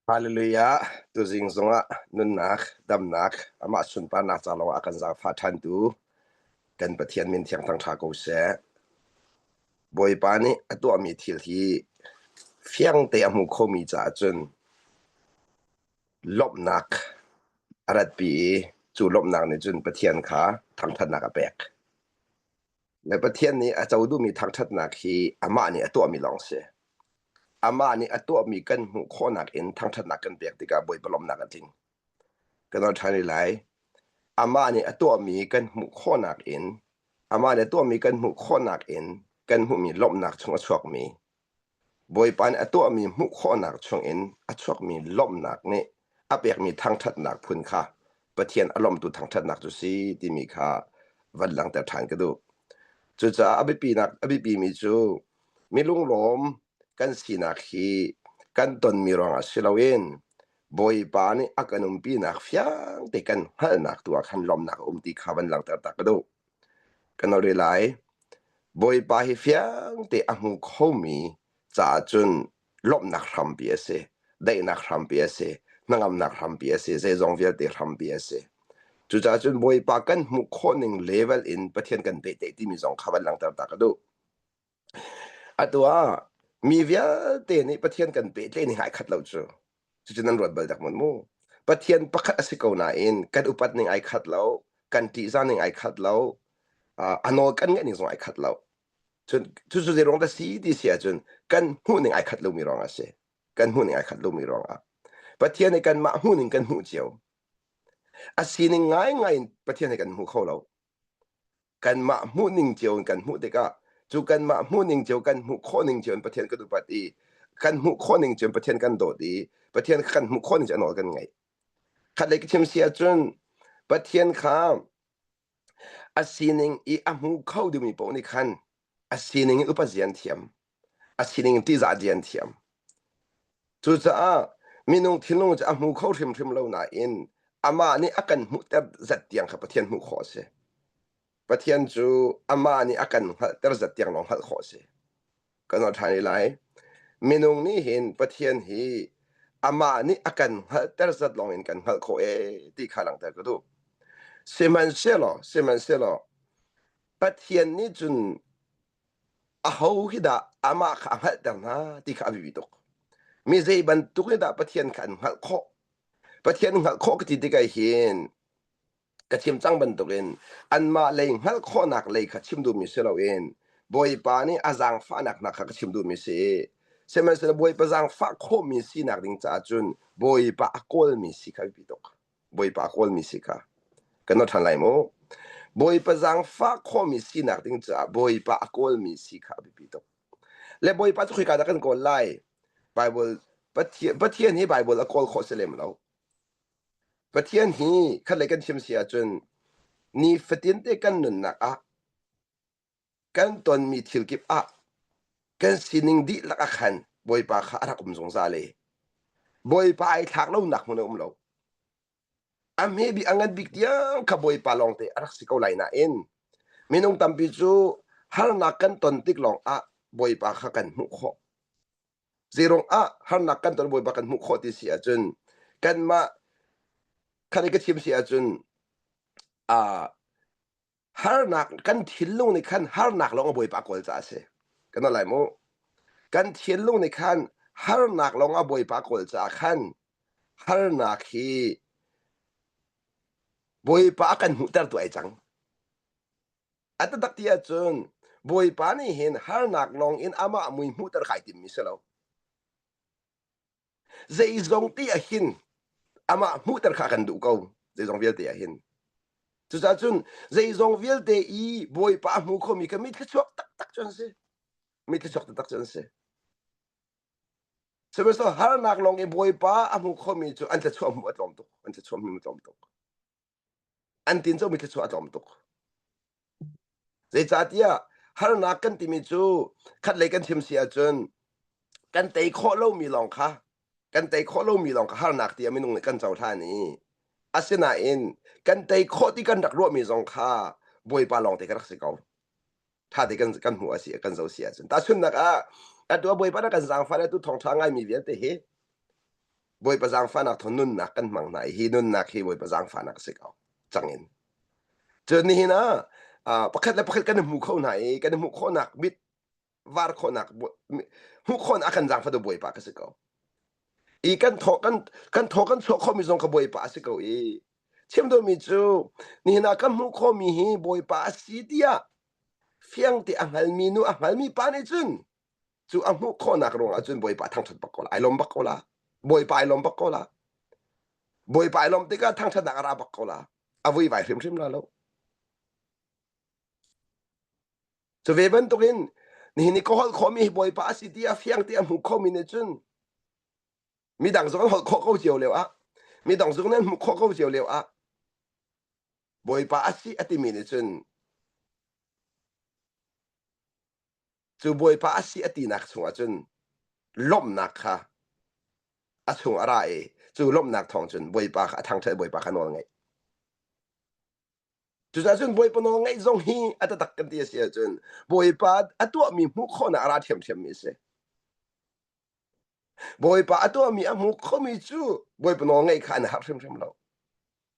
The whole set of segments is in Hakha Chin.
Hallelujah! Tuzing zongah nunnak, damnak, amah sunparnak ca lawngah a kan zaangfah ṭhantu kan Pathian min thiangthang ṭha ko seh. Bawipa nih a tuahmi thil hi fiangte a hmu khomi caah cun lawmhnak a ratpi i cu lawmhnak nih cun Pathian kha thangṭhatnak a pek. Me Pathian nih a co duhmi thangṭhatnak hi amah nih a tuahmi lawng a si. Amah nih a tuahmi kan hmuh khawhnak in thangṭhatnak kan pek tikah Bawipa lawmhnak a tling. Kan ol ṭhan rih lai. Amah nih a tuahmi kan hmuh khawhnak in amah nih a tuahmi kan hmuh khawhnak in kan hmuhmi lawmhnak chung a chuakmi Bawipa nih a tuahmi hmuh khawhnak chungin a chuakmi lawmhnak nih a pekmi thangṭhatnak phun kha Pathian a lawmtu thangṭhatnak cu si timi kha van langhter ṭhan ka duh. Cucaah a biapinak a biapimi cu mi lunglawm kan sinak hi kan tonmi ruangah si loin Bawipa nih a kan umpinak fiangte kan hngalhnak tu ah khan lawmhnak a um ti kha van langhter tak ka duh. Kan rak ri lai. Bawipa hi fiangte a hmu khomi caah cun lawmhnak hrampi a si. Daihnak hrampi a si. Hnangamnak hrampi a si. Zeizong vialte hrampi a si. Cucaah cun Bawipa kan hmuh khawh ning level in Pathian kan pehtlaih timi zong kha van langhter ta ka duh. Atu ah mi vialte nih Pathian kan pehtlaih ni hai khat lo cu cucu nan ruat bal dak mawn mu. Pathian pakhat a si ko nain kan upat ning ai khat lo, kan ṭihzah ning ai khat lo, uh, a nawl kan ngaih ning zong ai khat lo. Cun cucu zeiruang dah si ti si ahcun kan hmuh ning ai khat lomi ruang a si. Kan hmuh ning ai khat lomi ruang ah. Pathian nih kanmah hmuh ning kan hmuh cio. A sining ngaingai in Pathian he kan hmu kho lo. kanmah hmuhning cio in kan hmuh tikah cu kanmah hmuhning cio kan hmuh khawhning cio in Pathian kan upat i kan hmuh khawhning cio in Pathian kan dawt i Pathian kha kan hmuh khawhning cio nawl kan ngaih. Khatlei ka chim si ahcun Pathian kha a sining i a hmu kho deuhmi paoh nih khan a sining in upat zia an thiam. a sining tihzah di an thiam. Cucaah minung thinlung cu a hmu kho hrimhrim lo nain amah nih a kan hmuhter zat tiang kha Pathian hmuh khawh a si. Pathian cu amah nih a kan hngalhter zat tiang lawng hngalh khawh a si. Kan ol ṭhan i lai. Minung nih hin Pathian hi amah nih a kan hngalhter zat lawng in kan hngalh khawh ee ti kha langhter ka duh. Sihmanhsehlaw, sihmanhsehlaw Pathian nih cun Aho khi dah amah kha a hngalhter hna ti kha a biapi tuk. Mi zei bantuk in dah Pathian kha an hngalh khawh? Pathian hngalh khawh ka ti tikah hin ka chim cang bantukin anmah lei hngalh khawhnak lei kha chim duhmi si loin Bawipa nih a zaangfahnak hna kha ka chim duhmi si i sihmanhsehlaw Bawipa zaangfah khawhmi sinak ding caah cun Bawipa a kawlmi si kha a biapi tuk. Bawipa kawlmi si kha kan rawt ṭhan lai maw? Bawipa zaangfah khomi sinak ding caah Bawipa a kawlmi si kha a biapi tuk. Le Bawipa cu khoika dah kan kawl lai? Baibal Pathian, Pathian hi Baibal a kawl khawh si lem lo. Pathian hi khatlei kan chim si ahcun nifatin te kan nunnak ah kan tonmi thil kip ah kan sining dihlak ah khan Bawipa kha a rak um zungzal i Bawipa ai thlak lonak hmun a um lo. A maybe a ngan bik tiang kha Bawipa lawng te a rak si ko lai nain minung tampi cu harnak kan ton tik lawng ah Bawipa kha kan hmuh khawh. Zeirong ah harnak kan ton Bawipa kan hmuh khawh ti si ahcun kanmah kha ka chim si ahcun uh, harnak kan thinlung nih khan harnak lawng a bawipa kawl caah a si kana lai mu kan thinlung nih khan harnak lawng a bawipa kawl caah khan harnak hi bawipa kan hmuhter tu ai cang a tatak ti ahcun bawipa nih hin harnak lawng in amah mui hmuhter kai timmi si lo Zeizong ti ah hin amah hmuhter kha kan duh ko. Zeizong vialte ah hin. Cucaah cun zeizong vialte i Bawipa a hmu khomi kha mitthla chuak taktak cu an si. Mitthla chuak taktak cu an si. Sihmanhsehlaw harnak lawng i Bawipa a hmu khomi cu an tla chuah hmu a tlawm tuk. An tla chuah hmu a tlawm tuk. an tin cu mi thluachuah a tlawm tuk zeicahtiah harnak kan timi cu khatlei kan chim si ahcun kan tei khawh lomi lawng kha kan tei khawh lomi lawng kha harnak tiah minung nih kan cohlan i asinain kan tei khawh ti kan rak ruahmi zong kha bawipa lawng te ka rak si ko thate kan kan hmu asi kan zo si ahcun ta sunnak ah atu bawipa na kan zaangfa le tu thongtha ngaimi vialte hi bawipa zaangfanak thon nunnak kan hmang hna i hi nunnak hi bawipa zaangfanak si ko changin cun nihin ah pakhat le pakhat kan hmu kho hna i kan hmu khawnak mit var khawnak hmu khon akan zaang fa do bawipa ka si ko i kan tho kan kan tho kan chuak khomi zong ka bawipa a si ko i Chim duhmi cu nihin ah kan hmuh khawhmi hi Bawipa a si tiah fiang te a hngalmi nu a hngalmi pa nih cun cu a hmuh khawhnak ruangah cun Bawipa a thangṭhat bak ko la, ai lawm bak ko la. Bawipa ai lawm bak ko la. Bawipa ai lawm tikah thangṭhatnak a ra bak ko la. A vuivai hrimhrim la lo. Cu ve bantukin nihin i ka holh khawhmi hi Bawipa a si ti a fiang ti a hmuh khomi nih cun midang zong an holh khawh ko cio lio ah midang zong nan hmuh khawh ko cio lio ah bawipa a si a timi nih cun cu bawipa a si a tinak chungah cun lawmhnak kha a chung a ra i cu lawmhnak thawng cun bawipa kha a thangṭhat bawipa kha nawl ngeih cucaah cun bawipa nawl ngeih zong hi a tatak kan ti a si ahcun bawipa a tuahmi hmuh khawhnak a ra ṭhiamṭhiammi a si Bawipa a tuahmi a hmu khomi cu Bawipa nawl ngaih kha an harh hrimhrim lo.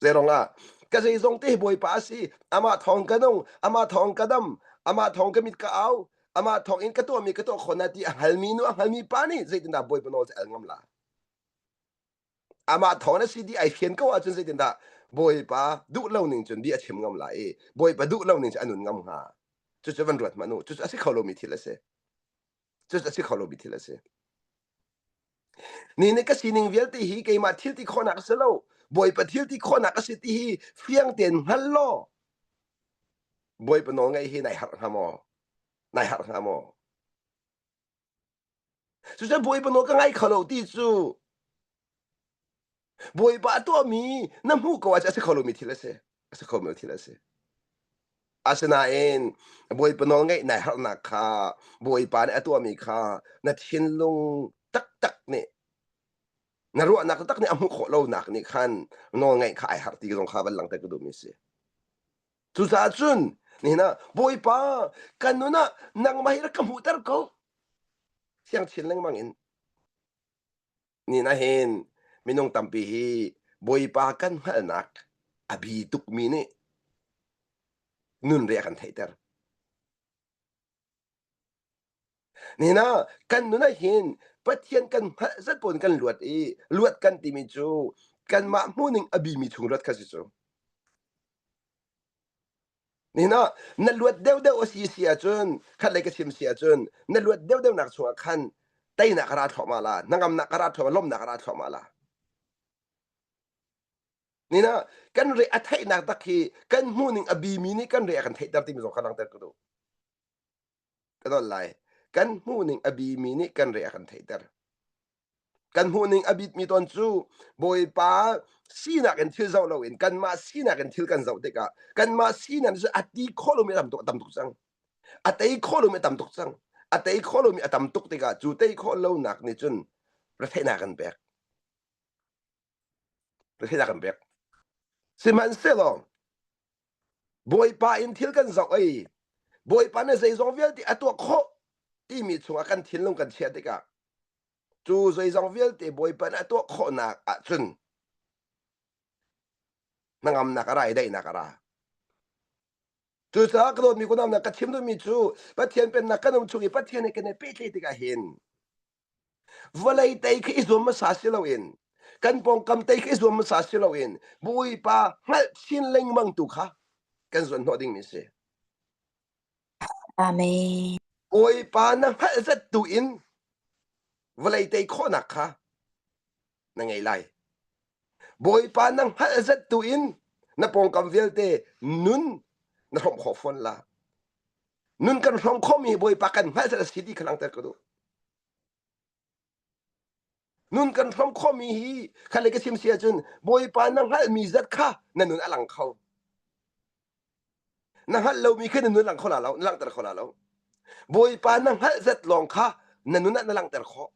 Zeirong ah ka zeizong te Bawipa a si. Amah thawng ka nung, amah thawng ka dam, amah thawng ka mit ka au, amah thawng in ka tuahmi ka tuah khawh na ti a halmi nu a halmi pa nih zeitindah Bawipa nawl cu al ngam la? Amah thawng na si ti ai fian ko ahcun zeitindah Bawipa duh lo ning cun bia a chim ngam la i Bawipa duh lo ning cu a nun ngam hnga? Cucu van ruat hmanh u. Cucu a si kho lomi thil a si. Just a si kho lo mi thil a si. Ni ni ka sining vialte hi keimah thil ti khawhnak si lo. Bawipa thil ti khawhnak a si ti hi fiang tein hngal law. Bawipa nawl ngaih hi nai harh hnga maw? Nai harh hnga maw? Cucu bawipa nawl ka ngai kho lo ti cu Bawipa tuahmi na hmuh ko ahcun a si kho lomi thil a si. A si kho mi thil a si. Asinain Bawipa nawl ngeih nai harhnak kha Bawipa nih a tuahmi kha na thinlung taktak nih na ruahnak taktak nih a hmuh khawh lonak nih khan nawl ngaih kha ai harh ti zong kha van langter ka duhmi a si. Cucaah cun nihin ah Bawipa kan nun ah nangmah hi rak ka hmuhter ko. Thiang chin lengmang in nih nahin minung tampi hi bawipa kan hngalhnak a bi tukmi nih nunria kan theihter nina kan nun ah hin pathian kan hngalh zat pun kan luat i luat kan timi cu kanmah hmuhning a bimi chung luat kha si cu Ni no, na luat deuhdeuh a si si ahcun, khatlei ka chim si ahcun, na luat deuhdeuhnak chungah khan teinak ka ra thluahmah la, hnangamnak ka ra thluahmah, lawmhnak ka ra thluahmah la. Ni no, kan re a theihnak tak hi kan hmuhning a bimi nih kan re a kan theihter timi zong kha langhter ka duh. ka don lai kan hmuhning a bimi nih kan re a kan theihter kan hmuhning a bitmi ton cu bawipa sinak in thil zoh loin kanmah sinak in thil kan zoh tikah kanmah sinak cu a ti kho lomi tam tuk tam tuk cang a tei kho lomi a tam tuk cang a tei kho lomi a tam tuk tikah cu tei khawh lonak nih cun retheihnak kan pek Hi kan pek. Sihmanhsehlaw Bawipa in thil kan zoh i Bawipa nih zeizong vialte a tuah khawh timi chungah kan thinlung kan chiah tikah cu zeizong vialte Bawipa nih a tuah khawhnak ahcun hnangamnak a ra i daihnak a ra. Cucaah ka dawtmi kunam ka chim duhmi cu Pathian pennak kan um chung i Pathian he kan i pehtlaih tikah hin Vawlei tei khi i zuam hmasa si loin kan pawngkam tei khi i zuam hmasa si loin Bawipa hngalh chin lengmang tu kha kan zuan hnawh dingmi si. Amen. Bawipa na hngalh zat tu in vawlei tei khawhnak kha na ngei lai. Bawipa na hngalh zet tu in na pawngkam vialte nun na hromh khawh fawn la. Nun kan hromh khomi Bawipa kan hngalh zet a si ti kha langter ka duh. Nun kan hromh khomi hi khalle ka sim si ahcun Bawipa na hngalhmi zat kha na nun a lang kho. Na hngalh lomi kha na nun lang kho la lo, na langter kho la lo. Bawipa na hngalh zat lawng kha na nun ah na langter khawh.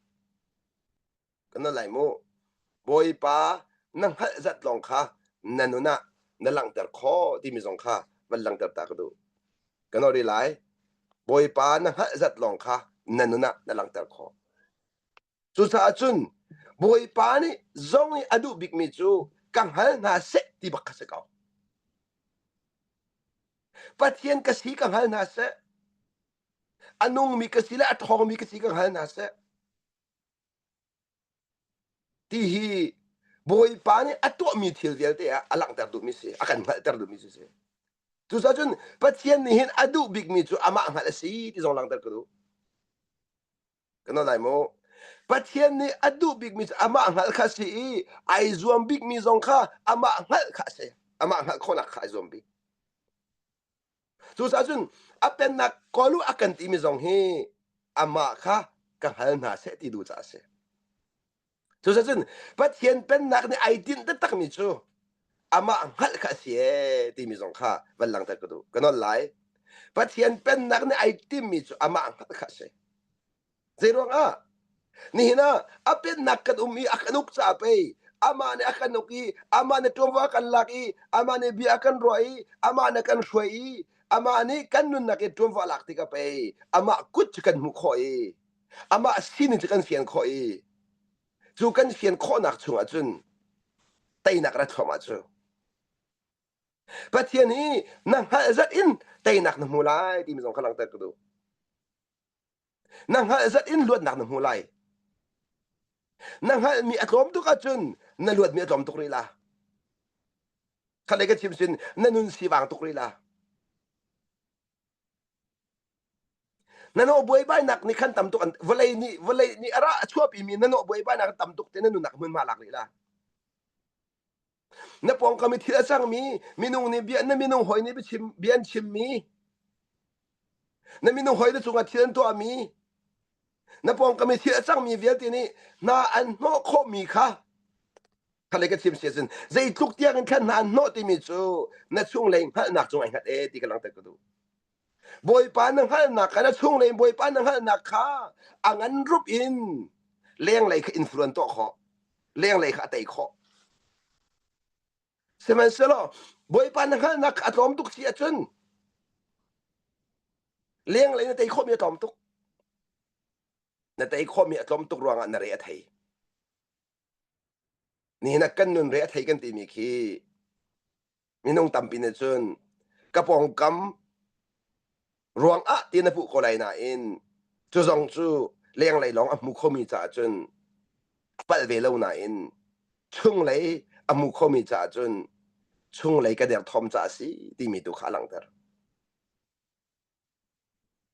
ka na lai mu. Bawipa na hngalh zat lawng kha na nun ah na langhter khawh timi zong kha van langhter ta ka duh. Ka no ri lai. Bawipa na hngalh zat lawng kha na nun ah na langhter khawh. Cucaah cun Bawipa nih zong i a duh bikmi cu ka hngal hna seh ti bak ka si ko. Pathian ka si ka hngal hna seh. A nungmi ka si le a ṭhawngmi ka si ka hngal hna seh. Ti hi Bawipa nih a tuahmi thil vialte ah a langhter duhmi a si, a kan hngalhter duhmi cu a si. Cucaah cun Pathian nih hin a duh bikmi cu amah hngalh a si ti zong langhter ka duh. Ka nawn lai maw? Pathian nih a duh bikmi cu amah hngalh kha a si i ai zuam bikmi zong kha amah hngalh kha a si. Amah hngalh khawhnak kha ai zuam bik. Cucaah cun a pennak kawl u a kan timi zong hi amah kha ka hal hna seh ti duh caah a si. Cucaah cun Pathian pennak nih ai tinh taktakmi cu amah hngalh kha a si ee timi zong kha van langhter ka duh. Ka nawl lai. Pathian pennak nih ai timmi cu amah hngalh kha a si. Zeiruangah? Nihin ah a pennak kan um i a kan uk caah pei amah nih a kan uk i amah nih ṭuanvo a kan lak i amah nih bia a kan ruah i amah nih a kan hruai i amah nih kan nunnak i ṭuanvo a lak tikah pei amah kut cu kan hmuh khawh i amah sinin cu kan fian khawh i cu kan fian khawhnak chungah cun teinak ra thluam ah cu Pathian hi na hngalh zat in teinak na hmu lai timi zong kha langhter ka duh. Na hngalh zat in luatnak na hmu lai. Na hngalhmi a tlawm tuk ahcun na luatmi a tlawm tuk rih la. Khalei ka chim sin na nun sivang tuk rih la. Na no buaibainak nih khan tam tuk an vawlei nih vawlei nih a ra a chuapi mi na no buaibainak tam tuk te na nunak hmunhma lak rih la. na pawngkam i thil a cangmi minung nih bia na minung hoi nih biachim bia an chimmi na minung hoi na cungah thil an tuahmi na pawngkam i thil a cangmi vialte nih hna an hnawh khawhmi kha khalei ka chim siasin zeitluk tiang in khan hna an hnawh timi cu na chung lei hngalhnak cung ai hngat e ti ka langter ka duh Bawipa na hngalhnak kha na chunglei in Bawipa na hngalhnak kha a ngan rup in lenglei kha influence tuah khawh lenglei kha a tei khawh sihmanhsehlaw Bawipa na hngalhnak kha a tlawm tuk si ahcun lenglei na tei khawhmi a tlawm tuk na tei khawhmi a tlawm tuk ruangah na re a thei Nihin ah kan nunre a thei kan timi khi minung tampi nih cun ka pawngkam ruang ah ti na hmuh ko lai nain cu zong cu lenglei lawng a hmu khomi caah cun palh ve lo nain chunglei a hmu khomi caah cun chunglei ka derthawm caah a si timi tu kha a langhter.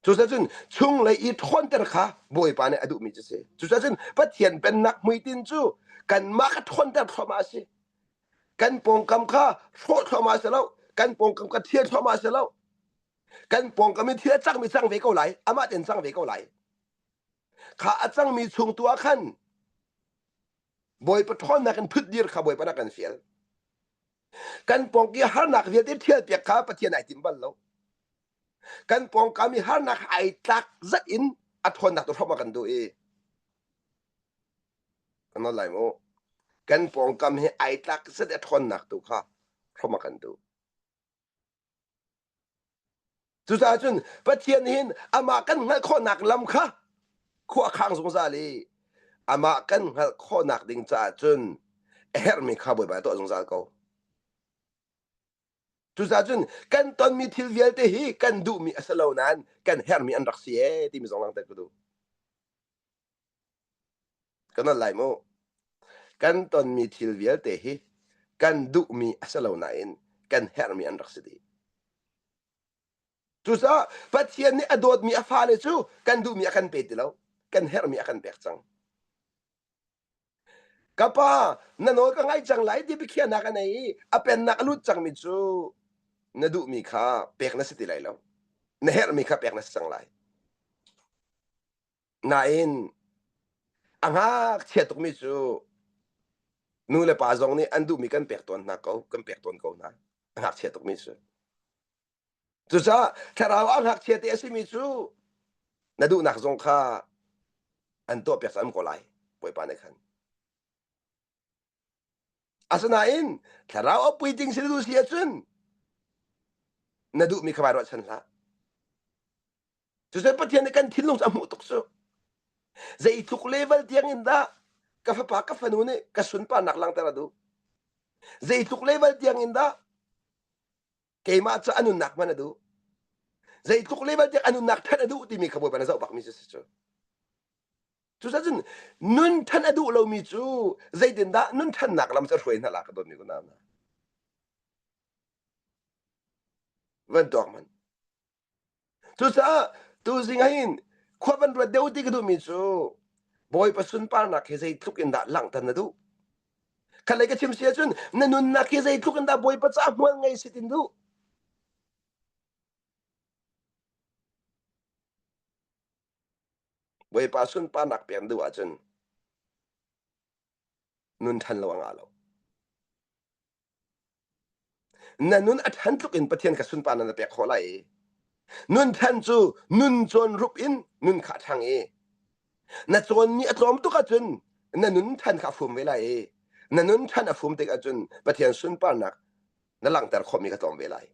Cucaah cun chunglei i ṭhawnter kha Bawipa nih a duhmi cu a si. Cucaah cun Pathian Pennak hmuitinh cu kanmah ka ṭhawnter thluahmah a si. Kan pawngkam kha hrawh thluahmah a si lo. Kan pawngkam kha thir thluahmah a si lo. Kan pawngkam i thil a cangmi cang ve ko lai. Amah tein cang ve ko lai. Kha a cangmi chung tu ah khan Bawipa ṭhawnnak in thutdir kha Bawipa nih a kan fial. kan pawng ki harnak vialte ṭhialpiak kha Pathian ai tim bal lo. Kan pawngkam i harnak ai tlak zat in a ṭhawnnak tu hram a kan duh i ano lai mu kan pawngkam hi ai tlak zat i a ṭhawnnak tu kha hram a kan duh. Cucaah cun Pathian hin amah kan hngalh khawhnak lam kha khuakhang zungzal i amah kan hngalh khawhnak ding caah cun a herhmi kha bawibai tuah zungzal ko. Cucaah cun kan tonmi thil vialte hi kan duhmi a si lo nain kan herhmi an rak si ee timi zong langter ka duh. ka nolh lai mu. Kan tonmi thil vialte hi kan duhmi a si lo nain kan herhmi an rak si dih. Cucaah Pathian nih a dawtmi a fale cu kan duhmi a kan pe ti lo. Kan herhmi a kan pek cang. Ka pa, na nawl ka ngaih cang lai ti biakhiahnak a nei i a pennak a lut cangmi cu na duhmi kha pek na si ti lai lo. Na herhmi kha pek na si cang lai. Nain a ngakchia tukmi cu nu le pa zong nih an duhmi kan pek tawn hna ko kan pek tawn ko hna a ngakchia tukmi cu cucaah thlarau ah ngakchia te a simi cu na duhnak zong kha an tuahpiak am ko lai bawipa nih khan Asinain thlarau a pui ding si na duh si ahcun na duhmi kha bai ruahchan hlah. Cucu Pathian nih kan thinlung cu a hmuh tuk cu. Zeitluk level tiang in dah ka fapa ka fanu nih ka sunparnak langhter a duh. Zeitluk level tiang in dah keimah cu a nunnak hman a duh. Zeitluk level tiang a nunnak thanh a duh timi kha Bawipa na zoh bakmi cu si cu. Cucaah cun nun ṭhan a duh lomi cu zeitindah nun ṭhannak lam cu a hruai hna la ka dawtmi ku nau hna. Van tuak man. Cucaah tuzing ah hin khua van ruat deuh ti ka duhmi cu Bawipa sunparnak hi zeitluk in dah langhter na duh? Khatlei ka chim si ahcun na nunnak hi zeitluk in dah Bawipa caah hmual ngei si tin duh? Bawipa sunparnak pek duh ahcun nun ṭhan lo a ngah lo. Na nun a ṭhan tluk in Pathian ka sunparnak na pek khawh lai i nun ṭhan cu nun cawn rup in nun kha a ṭhang i na cawn ni a tlawm tuk ahcun na nun ṭhan kha a fum ve lai i na nun ṭhan a fum tik ahcun Pathian sunparnak na langhter khawhmi kha tlawm ve lai.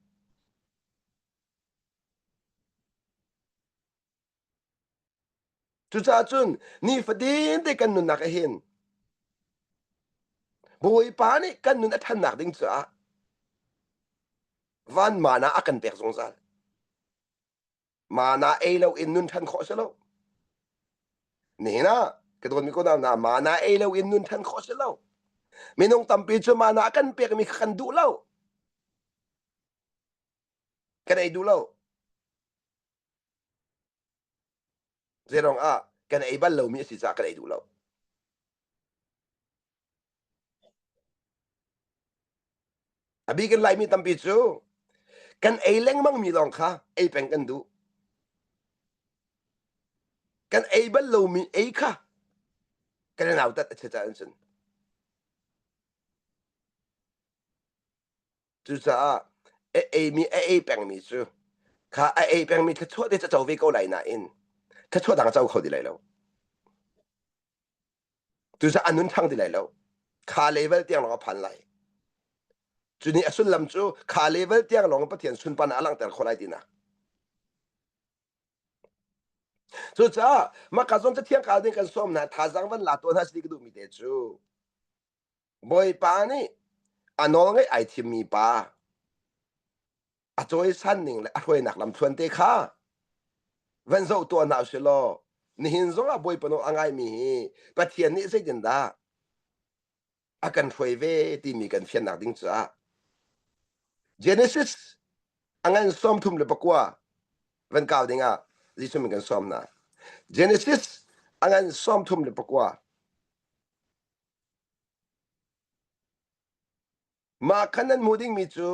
Cucaah cun nifatin te kan nunnak a hin Bawipa nih kan nun a ṭhannak ding caah vanman ah a kan pek zungzal. Mana ei loin nun ṭhan khawh a si lo. Nihin ah ka dawtmi ko hna, mana ei loin nun ṭhan khawh a si lo. Minung tampi cu mana a kan pekmi kha kan duh lo. Kan ei duh lo. Zeiruang ah kan ei bal lomi a si caah kan ei duh lo. A bik in Laimi tampi cu kan ei lengmangmi lawng kha ei peng kan duh. Kan ei bal lomi ei kha kan i nautat a chiaca an cun. Cucaah a eimi a ei pengmi cu kha a ei pengmi thluachuah te caco ve ko lai nain thluachuah dang co kho ti lai lo. Cucaah a nun thang ti lai lo. Kha level tiang lawng a phan lai. Cu ni a sullam cu kha level tiang lawng Pathian sunpan ah a langhter khawh lai tinak. Cucaah maka zong cathiang kal ding kan sawm hna thazang van la tuan has ni ka duhmi te cu Bawipa nih a nawl ngaih ai thimmi pa a cawisan ning le a hruainak lamthluan te kha van zoh tuah hna usih law nihin zongah Bawipa nawl a ngaimi hi Pathian nih zeitindah a kan hruai ve timi kan fiannak ding caah Genesis a ngan sawm thum le pakua van kau dingah Jesuh min kan sawm hna Genesis a ngan sawm thum le pakua Mah khan nan hmuh dingmi cu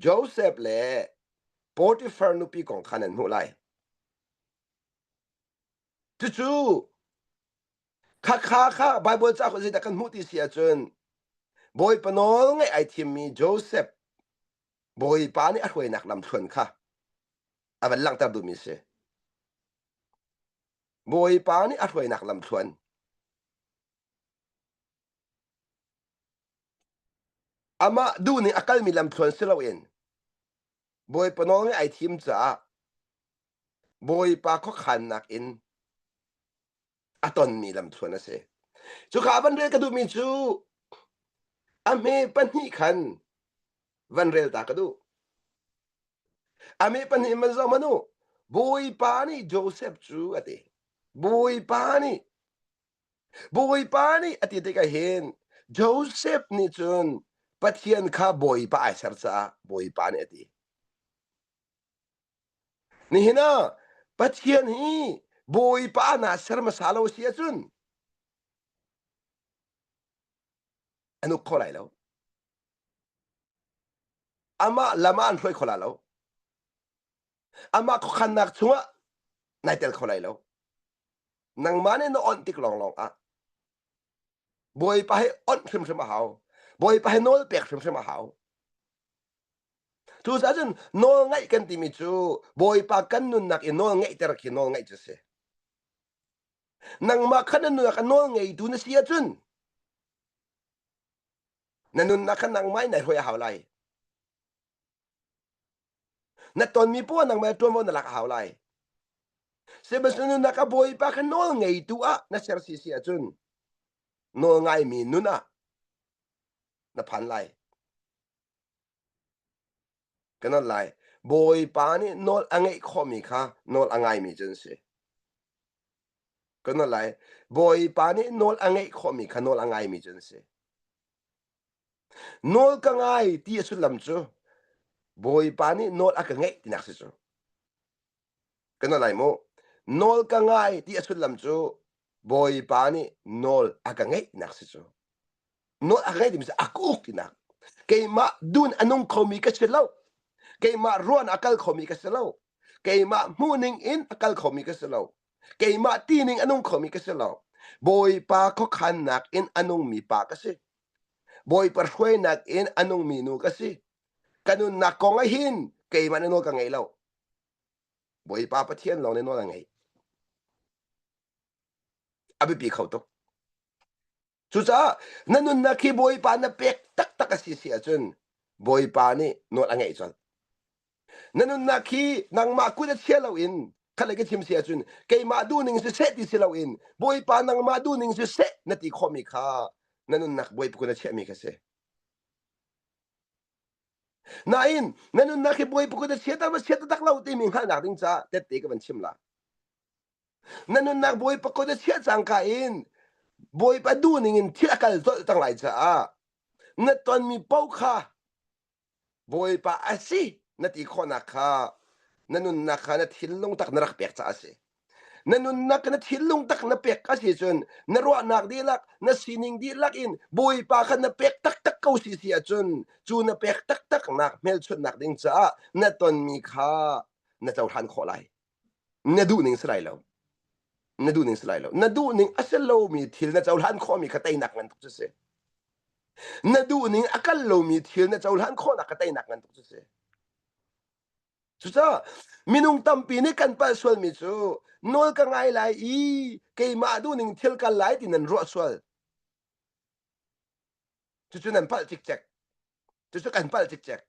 Josef le Potifar nupi kong kha nan hmuh lai. Cucu khakha kha Baibal cauk zeidah kan hmuh ti si ahcun bawipa nawl ngaih ai thimmi Josef bawipa nih a hruainak lamthluan kha a van langhter duhmi a si. Bawipa nih a hruainak lamthluan. Amah duh nih a kalmi lamthluan si loin Bawipa nawl nih ai thim caah Bawipa khuakhannak in a tonmi lamthluan a si. Cuka van rel ka duhmi cu a hme pahnih khan van rel ta ka duh ami pahnih man zong manu bawipa nih joseph cu a ti bawipa nih bawipa nih a ti tik ah hin joseph nih cun pathian kha bawipa ai ser caah bawipa nih a ti nihin ah pathian hi bawipa na ser hmasa lo si ahcun a nuk kho lai lo Amah lam ah an hruai kho la lo. Amah khuakhannak chungah nai tel kho lai lo. Nangmah nih na onh tik lawnglawng ah Bawipa he onh hrimhrim a hau. Bawipa he nawl pek hrimhrim a hau. Cucaah cun nawl ngaih kan timi cu Bawipa kan nunnak i nawl ngeihter khi nawl ngaih cu a si. Nangmah kha na nunnak a nawl ngeitu na si ahcun na nunnak kha nangmah in ai hoi a hau lai na tonmi puan nangmah tuanvo na lak a hau lai sihmanhsehlaw nunnak a bawipa kha nawl ngeitu ah na ser si si ahcun nawl ngaimi nun ah na phan lai Ka nolh lai. Bawipa nih nawl a ngeih khawhmi kha nawl a ngaimi cu an si. Ka nolh lai. Bawipa nih nawl a ngeih khawhmi kha nawl a ngaimi cu an si. Nawl ka ngai ti a sullam cu Bawipa nih nawl a ka ngeih tinak si cu. Kan nalai mu. Nawl ka ngai ti a sullam cu Bawipa nih nawl a ka ngeihnak si cu. Nawl a ka ngeih timi cu a ka uk tinak. Keimah dun a nung khomi ka si lo. Keimah ruan a kal khomi ka si lo. Keimah hmuhning in a kal khomi ka si lo. Keimah tining a nung khomi ka si lo. Bawipa khuakhannak in a nungmi pa ka si. Bawipa hruainak in a nungmi nu ka si. Ka nunnak kong ah hin keimah nih nawl ka ngei lo. Bawipa Pathian lawng nih nawl a ngeih. A biapi kho tuk. Cucaah na nunnak khi Bawipa na pek taktak a si si ahcun Bawipa nih nawl a ngeih colh. Na nunnak khi nangmah kut a chia loin khatlei ka chim si ahcun keimah duhning siseh ti si loin Bawipa nangmah duhning siseh na ti khawhmi kha na nunnak Bawipa kut a chiahmi kha si. Nain, na nunnak hi bawi pukut a chiater va chiat tak lo timi hngalhnak ding caah tette ka van chim la. Na nunnak bawi pakut a chiah cangka in bawipa du ningin thil a kal zolh cang lai caah na tonmi paoh kha bawipa a si na ti khawhnak kha na nunnak kha na thinlung tak na rak pek caah a si. Na nunnak na thinlung tak na pek a si cun na ruahnak dihlak na sining dihlak in Bawipa kha na pek taktak ko si si ahcun cu na pek taktaknak hmelchunhnak ding caah na tonmi kha na cohlan khawh lai. Na duh ning si lai lo. Na duh ning si lai lo. Na duh ning a si lomi thil na cohlan khawhmi kha teinak ngan tuk cu si. Na duh ning a kal lomi thil na cohlan khawhnak kha teinak ngan tuk cu si. Cucaah minung tampi nih kan palh sualmi cu nawl ka ngai lai i keimah duhning thil kal lai ti nan ruah sual. Cucu nan palh cikcek. Cucu kan palh cikcek.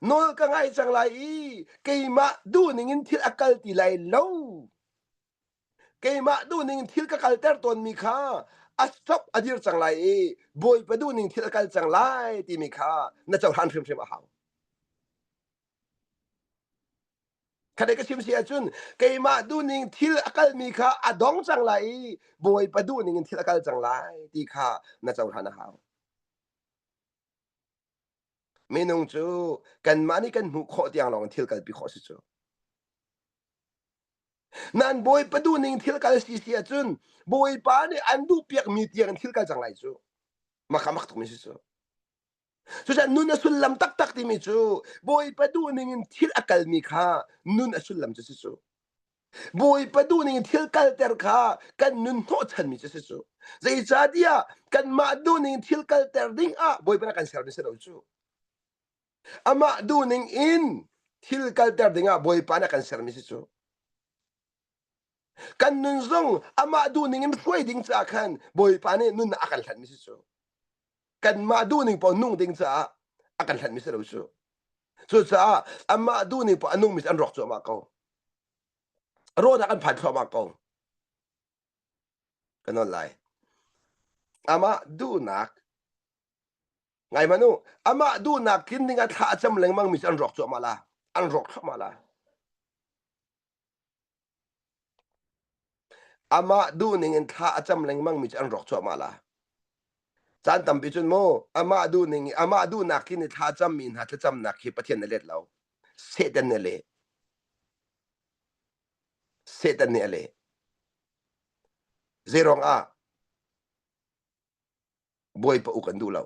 Nawl ka ngai cang lai i keimah duhning in thil a kal ti lai lo. keimah duhning thil ka kalter tawnmi kha a sok a dir cang lai i bawipa duhning thil a kal cang lai timi kha na cohlan hrimhrim a hau khaday ka chim si ahcun keimah duhning thil a kalmi kha a dong cang lai i bawipa duhning in thil a kal cang lai ti kha na cohlan a hau minung cu kanmah nih kan hmuh khawh tiang lawng in thil kalpi khawh si cu Nan Bawipa duhning thil kal si si ahcun Bawipa nih an duhpiakmi tiang thil kal cang lai cu. Makhamak tukmi si cu. Cucaah nun a sullam taktak timi cu Bawipa duhning in thil a kalmi kha nun a sullam cu si cu. Bawipa duhning in thil kalter kha kan nun hnawhchanmi cu si cu. Zeicahtiah kanmah duhning in thil kalter ding ah Bawipa nih a kan sermi si lo cu. Amah duhning in thil kalter dingah Bawipa nih a kan sermi si cu. Kan nun zong amah duhning in hruai ding caah khan Bawipa nih nunnak a kan hlanmi si cu. Kanmah duhning paoh nung ding caah a kan hlanmi si lo cu. Cucaah amah duhning paoh a nungmi an rawk cuahmah ko. Rawhnak an phan thluahmah ko. Kan on lai. Amah duhnak ngai manu amah duhnak tlin ding a thla a cam lengmang mi an rawk cuahmah la an rawk thluahmah la amah duhning in thla a cam lengmang mi an rawk cuahmah la caan tampi cun mu amah duhning amah duhnak kin i thla cam mi hna thlacamnak hi pathian na let lo satan ne le satan ne le zeirong ah bawipa uk an duh lo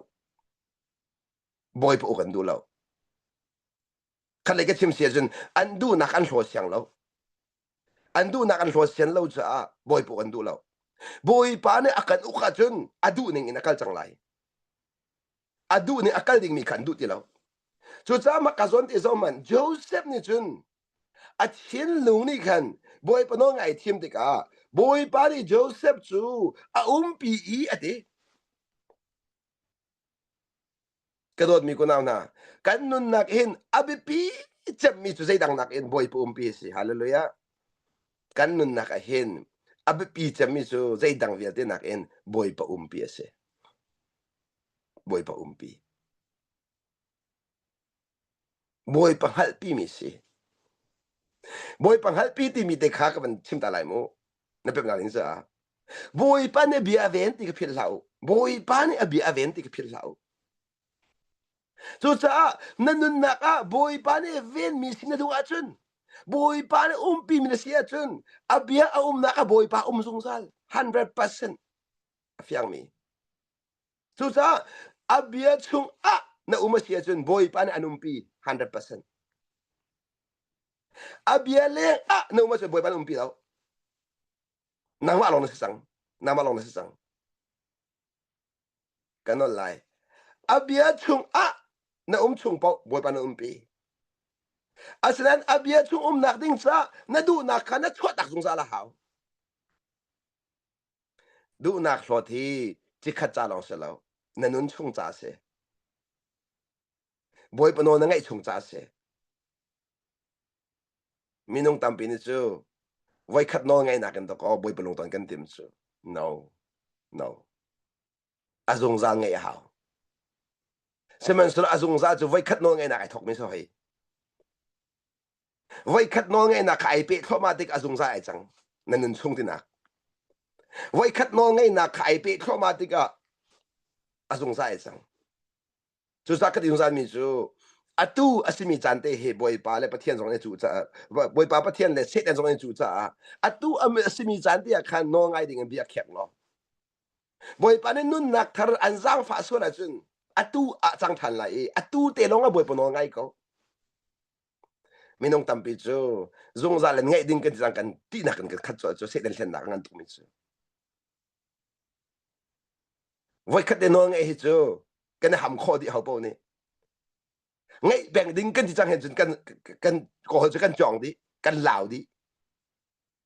bawipa uk an duh lo khatlei ka chim si ahcun an duhnak an hlaw siang lo an duhnak an hlaw sian lo caah bawipa uk an duh lo bawipa nih a kan uk ahcun a duh ning in a kal cang lai a duh ning a kal dingmi kha an duh ti lo cucaah mah ka zawn ti zong man joseph nih cun A thinlung nih khan Bawipa nawl ngaih a thim tikah Bawipa nih Josef cu a umpi i a ti. Ka dawtmi kunau hna, kan nunnak hin a biapi cemmi cu zeidang nakin Bawipa umpi a si. Hallelujah. Kan nunnak ah hin a biapi cemmi cu zeidang vialte nakin Bawipa umpi a si. Bawipa umpi. Bawipa hngalhpimi si. Bawipa hngalhpi timi te kha ka van chim ta lai mu. Na pemnak in caah. Bawipa nih a bia a ven ti ka philh hlah u. Bawipa nih a bia a ven ti ka philh hlah u. Cucaah na nunnak ah Bawipa nih a venmi si na duh ahcun, Bawipa nih umpimi na si ahcun, a bia a umnak ah Bawipa um zungzal 100% a fiangmi. Cucaah a bia chungah na um a si ahcun Bawipa nih an umpi 100%. A bia leng ah na um ahcun Bawipa nih umpi lo. Nangmah lawng na si cang. Nangmah lawng na si cang. Kan nawl lai. A bia chungah na um chung paoh Bawipa na umpi. Asinain a bia chung umnak ding ca na duhnak kha na chuahtak zungzal a hau. Duhnak hlawt hi cikhat ca lawng si lo, na nun chung ca a si. Bawipa nawl na ngaih chung ca a si. Minung tampi nih cu voikhat nawl ngaihnak in tok aw Bawipa lungton kan tim cu. No, no. a zungzal ngeih a hau sihmanhsehlaw a zungzal cu voikhat nawlngeihnak ai thokmi si hoi voikhat nawlngeihnak kha ai peh thluahmah tik a zungzal ai cang nan nun chung tinak voikhat nawlngeihnak kha ai peh thluahmah tikah a zungzal ai cang cusakat i zungzalmi cu atu a simi caan te he bawipa le pathian zong nih cu caah bawipa pathian le satan zong nih cu caah atu a simi caan te ah khan nawl ngai ding in bia khek law Bawipa nih nunnak thar an zaangfah sual ahcun atu ah cang ṭhan lai i atu te lawng a Bawipa nawl ngai ko. Minung tampi cu zungzal in ngeih ding kan ti kan tihnak in kan khat cu cu Satan thlennak ngan tukmi cu. Voikhat te nawl ngeih hi cu kan i ham khawh dih ho paoh nih ngeih peng ding kan ti cang he cun kan kan kohol cu kan cawng dih kan lau dih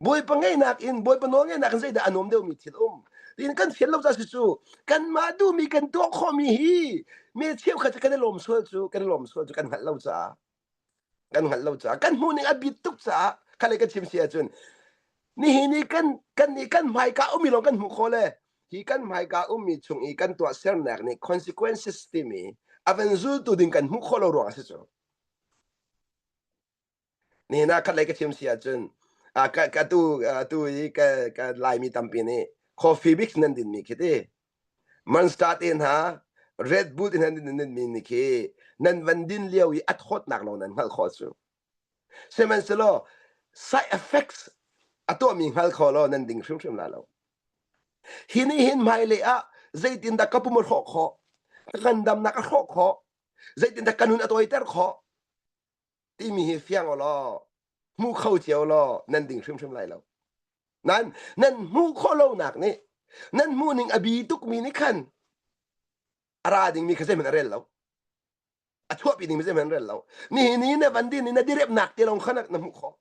Bawipa ngeinak in Bawipa nawlngaihnak in zeidah a nuam deuhmi thil um. Tiin kan fian lo ca si cu kanmah duhmi kan tuah khawhmi hi me cheukhat cu kan i lawm sual cu kan i lawm sual cu kan hngalh lo caah kan hngalh lo caah kan hmuhning a bit tuk caah khalei ka chim si ahcun nihin ni kan kan nih kan hmaika ummi lawng kan hmuh kho le hi kan hmaika ummi chung i kan tuah sernak nih consequences timi a van zultu ding kan hmuh khawh lo ruang a si cu. Nihin ah khatlei ka chim si ahcun, ah ka ka tu ah tu i ka ka Laimi tampi nih coffee mix nan dinmi khi ti. Munster te hna, Red Bull te hna nan dinmi ni khi nan van din lio i a thawtnak lawng nan hngalh khawh cu. Sihmanhsehlaw side effects a tuahmi hngal kho lo nan ding hrimhrim la lo. Hi nih hin hmailei ah zeitin dah ka pum a hrawh khawh, ka kan damnak a hrawh khawh, zeitin dah ka nun a tawiter khawh, timi hi fiang u law hmu kho cio law nan ding hrimhrim lai lo nan nan hmuh khawh lonak nih nan hmuhning a bi tukmi nih khan a ra dingmi kha zeihman a rel lo a chuahpi dingmi zeihman a rel lo nihin ni na van din i na direpnak te lawng kha na hmuh khawh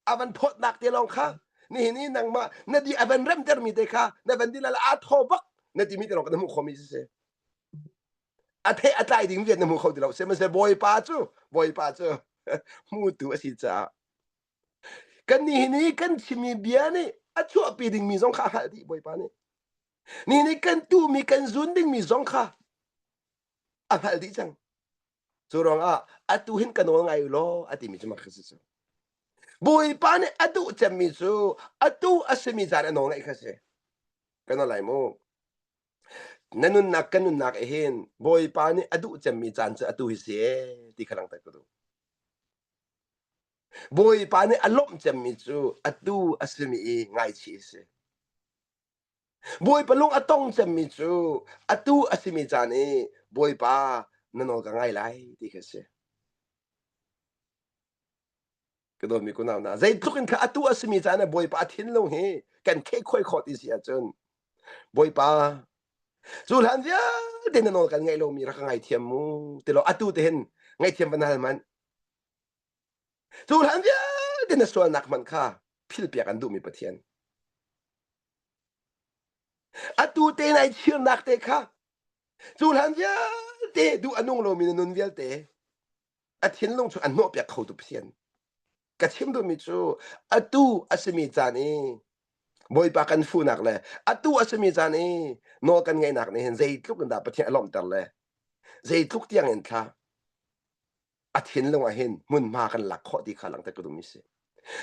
avan phawt nak te lawng kha ni ni nangma na di avan rem ter mi te kha na van di la a tho bak na ti mi te lawng na mu kho mi se a the a tlai ding viet na mu kho ti lo se ma se boy pa chu boy pa chu mu tu a si cha kan ni ni kan chimi bia ni a chuah pi ding mi zong kha hal di boy pa ni ni ni kan tu mi kan zun ding mi zong kha a hal di chang cu ruangah atu hin ka nawl ngai u law a timi cu makha si cu bawipa nih a duh cemmi cu atu a simi zan a nawl ngaih kha si ka nawl lai mu na nunnak kan nunnak ah hin bawipa nih a duh cemmi caan cu atu hi si e ti kha langter ka duh bawipa nih a lawmh cemmi cu atu a simi i ngaichih a si Bawipa lung a tong cemmi cu atu a simi caan i Bawipa na nawl ka ngai lai ti khi a si. Ka dawtmi kunau hna, zeitluk in kha atu a simi caan ah Bawipa a thinlo hi kan khehkhuai khawt i si ahcun Bawipa cu hlan vialte na nawl kan ngaih lomi rak ka ngaithiam mu ti law atu te hin ngaihthiam va na hal hmanh. Cu hlan vialte na sualnak hmanh kha philpiak an duhmi Pathian. Atu te na i thirnak te kha cu hlan vialte duh a nung lomi na nun vialte a thinlung cu an hnawhpiak khotu Pathian. Ka chim duhmi cu atu a simi caan i Bawipa kan funak le atu a simi caan i nawl kan ngaihnak nih hin zeitluk in dah Pathian a lawmhter le zeitluk tiang in thla a thinlung ah hin hmunhma kan lak khawh ti kha langte ka dum si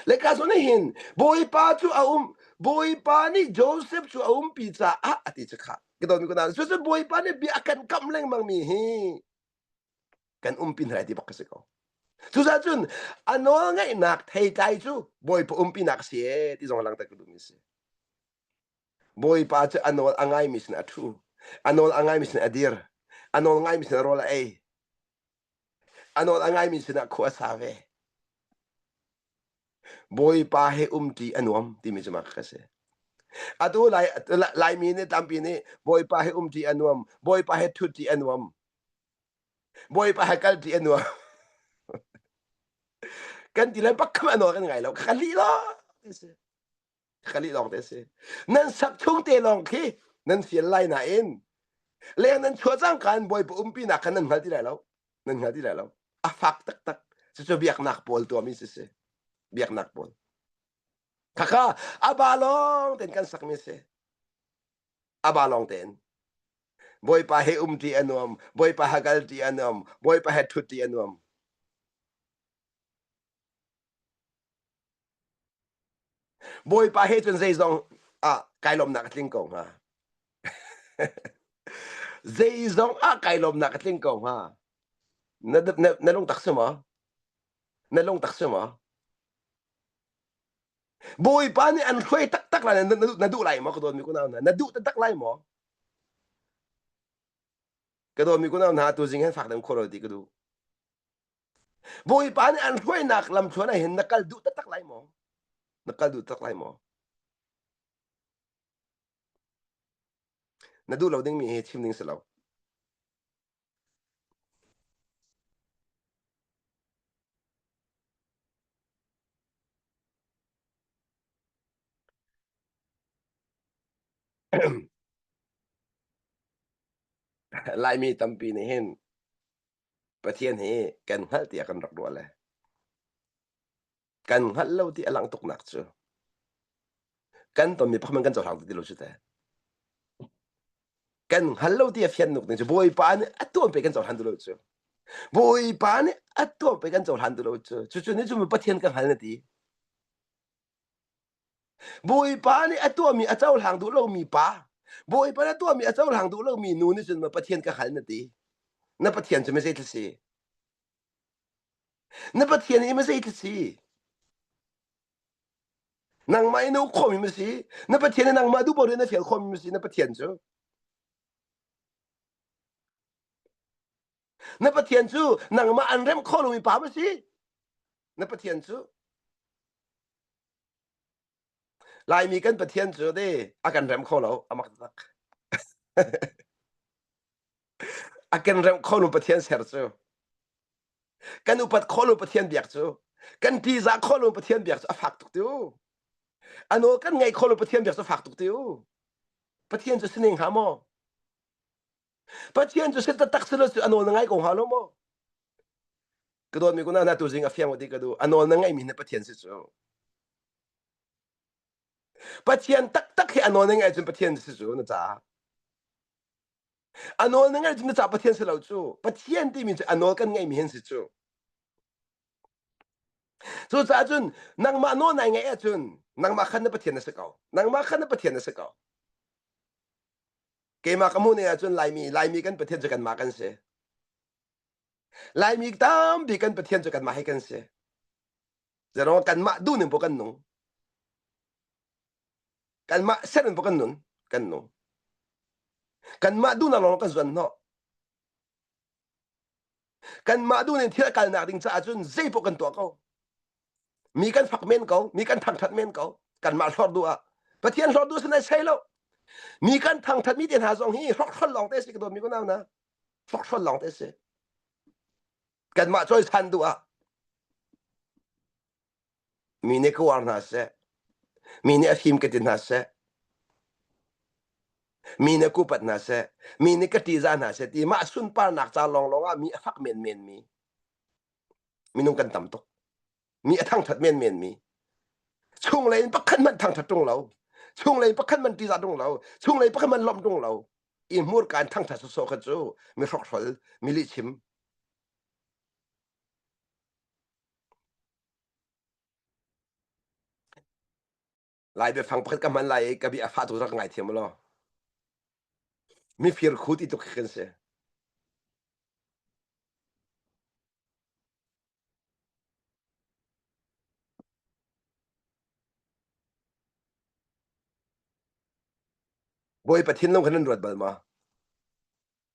le ka sun hin bawipa cu a um bawipa nih joseph cu a um pi caah a ti kha ka don ko na su su bawipa nih bia kan kam lengmang mi hi kan um pin rai ti bak ka si ko cusa cun a nawl ngaihnak thei tlai cu bawipa umpinak si e ti zong lang ta ka dum si bawipa cu a nawl a ngai mi sin a thu a nawl a ngai mi sin a dir a nawl ngai mi sin a rol a ei a nawl a ngaimi sinah khua a sa ve bawipa he um ti a nuam timi cu ka si atu lai laimi nih tampi nih bawipa he um ti a nuam bawipa he thut ti a nuam bawipa he kal ti a nuam kan ti le bakkam a nawl kan ngai lo ka li lo ka lih lawng te a si nan sak chung te lawng khi nan fial lai nain leng nan chua cang kan bawipa umpi nak khan nan hngal ti lai lo nan hngal ti lai lo a fak taktak cucu biaknak pawl tuami si si biaknak pawl khakha aba lawng ten kan sak mi si aba lawng ten boipa he um ti anuam boipa ha gal ti anuam boipa he thut ti anuam Bawipa he cun zeizong ah kai lawmnak a tling ko hnga. zeizong ah kai lawmnak a tling ko hnga. Na, na, na lung tak si maw? Na lung tak si maw? Bawipa nih an hruai taktak lai na duh lai maw ka dawtmi kunau hna? Na duh taktak lai maw? Ka dawtmi kunau hna tu zing hen fak dem khawro ti ka duh. Bawipa nih an hruainak lamthluan ah hin na kal duh taktak lai maw? Na kal duh taktak lai maw? Na duh lo dingmi hi chim ding si lo. Laimi tampi nih hin Pathian hi kan hngalh tiah kan rak ruah le kan hngalh lo ti a langh tuknak cu kan tonmi pakhat man kan cohlang ti lo cu teh kan hngal lo ti a fian nuk ning cu bawipa nih a tuan pe kan cohlan tu lo cu bawipa nih a tuan pe kan cohlan tu lo cu cucu nih cun Pathian ka hngal na ti Bawipa nih a tuahmi a cohlang duh lomi pa, Bawipa nih a tuahmi a cohlang duh lomi nu nih cun na Pathian ka hngalh na ti. Na Pathian cu mizei thil si? Na Pathian hi mizei thil si? Nangmah hi na uk khawhmi ma si? Na Pathian hi nangmah duh paoh in na fial khawhmi ma si na Pathian cu? na pathian cu nangmah an remh kho lomi pa ma si na pathian cu laimi kan pathian cu de a kan rem kho lo a mak tak a kan rem kho lo pathian ser cu kan upat kho lo pathian biak cu kan tiza kho lo pathian biak cu a fak tuk tiêu ano kan ngei kho lo pathian biak cu fak tuk tiêu pathian cu sining ha maw Pathian cu set tak silo cu anawl na ngai ko hnga lo maw ka dawtmi ku na tu zing a fiang ti ka du anawl na ngai mi na Pathian si cu Pathian taktak hi anawl na ngai cun Pathian si cu na caah anawl na ngai cun na caah Pathian si lo cu Pathian timi cu anawl kan ngai mi hin si cu cucaah cun nangmah nawl nai ngaih ahcun nangmah khan na Pathian na si ko nangmah khan na Pathian na si ko keimah ka hmuh ne ahcun laimi laimi kan pathian cu kanmah kan si laimi tampi kan pathian cu kanmah hi kan si zerawng kanmah duhning pu kan nung kanmah serning pu kan nun kan nu kanmah duhnak lawng kan zuan hnawh Kanmah duh in thil kalnak ding caah cun zeipaoh kan tuah ko. Mi kan fak men ko, mi kan thangthat men ko. Kanmah hlor du ah. Pathian hlor du sanai sei lo. Mi kan thangthat mi te hna zong hi hrokhrol lawng te si ka dawt mi kunau na. Hrokhrol lawng te si. Kanmah choi san du ah. Mi nih ka uar hna seh. Mi nih a fim ka ti hna seh. Mi nih a kupat hna seh. Mi nih ka ṭihzah hna seh ti mah sunparnak ca lawnglawng ah mi a fak menmenmi. Minung kan tam tuk. Mi a thangṭhat menmenmi. Chunglei in pakhat hmanh thangṭhat ṭung lo. Chunglei in pakhat hmanh ṭihzah ṭung lo. Chunglei in pakhat hmanh lawmh ṭung lo. I hmurka in thangṭhat sawsawh kha cu mi hrokhhrol, mi lihchim. Lai biafang pakhat ka hman lai i ka bia a fah tu rak ka ngaithiam law mifir khu ti tuk khi kan si. Bawi Pathin long khan an ruat bal ma?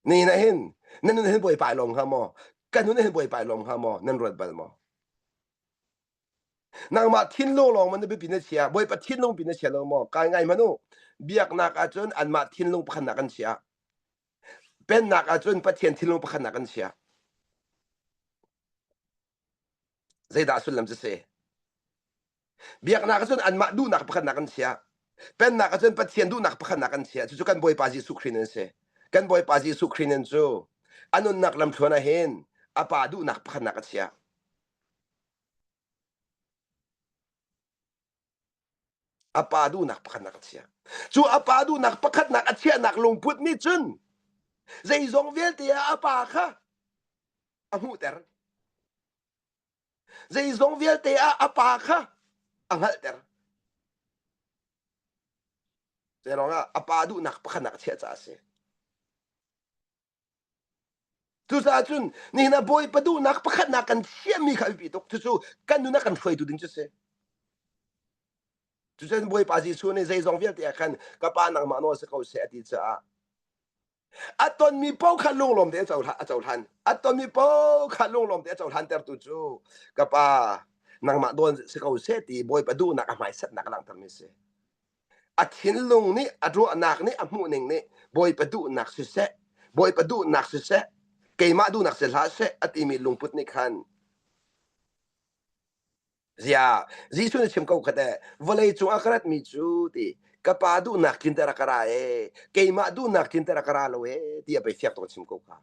ni na hin nan nun hin bawipa lawm hnga maw kan nun hin bawipa lawm hnga maw nan ruat bal maw nangmah thinlung lawng man bipi na chia bawipa thinlung pi na chia lo maw kai ngai manu biaknak ahcun anmah thinlung pakhatnak kan chia pennak ahcun pathian thinlung pakhatnak kan chia zeidah sullam cu si biaknak cun anmah duhnak pakhatnak an chiah pennak cun pathian duhnak pakhatnak an chiah cucu kan bawipa jesuh khrist nan si kan bawipa jesuh khrist nan cu a nunnak lamthluan ah hin a pa duhnak pakhatnak a chiah a pa duhnak pakhatnak a chiah cu a pa duhnak pakhatnak a chiahnak lungput nih cun zeizong vialte ah a pa kha a hmuhter Zeizong vialte ah a pa kha a hngalhter. Zei ruangah a pa duhnak pakhanak chiah caah a si. Cucaah cun nihin ah Bawipa duhnak pakhatnak kan chiahmi kha a biapi tuk. Cucu kan nunah kan hruaitu ding cu si. Cucaah Bawipa Jesuh nih zeizong vialte ah khan ka pa nangmah nawl si ko seh a ti caah a tonmi pau kha lunglawm te a cohlan a cohlan a tonmi pau kha lunglawm te a cohlan tertu cu ka pa nangmah dawn si ko seh ti bawipa duhnak a hmaisatnak langhtermi si a thinlung nih a ruahnak nih a hmuhning nih bawipa duhnak siseh bawipa duhnak siseh keimah duhnak si hlah seh a timi lungput nih khan Ziah, Jesuh nih a chim ko khat eh, vawlei cungah ka ratmi cu ti, ka Pa duhnak tlin ter a ka ra ee, keimah duhnak tlin ter a ka ra lo ee, ti a bei fiak tuk a chim ko ka.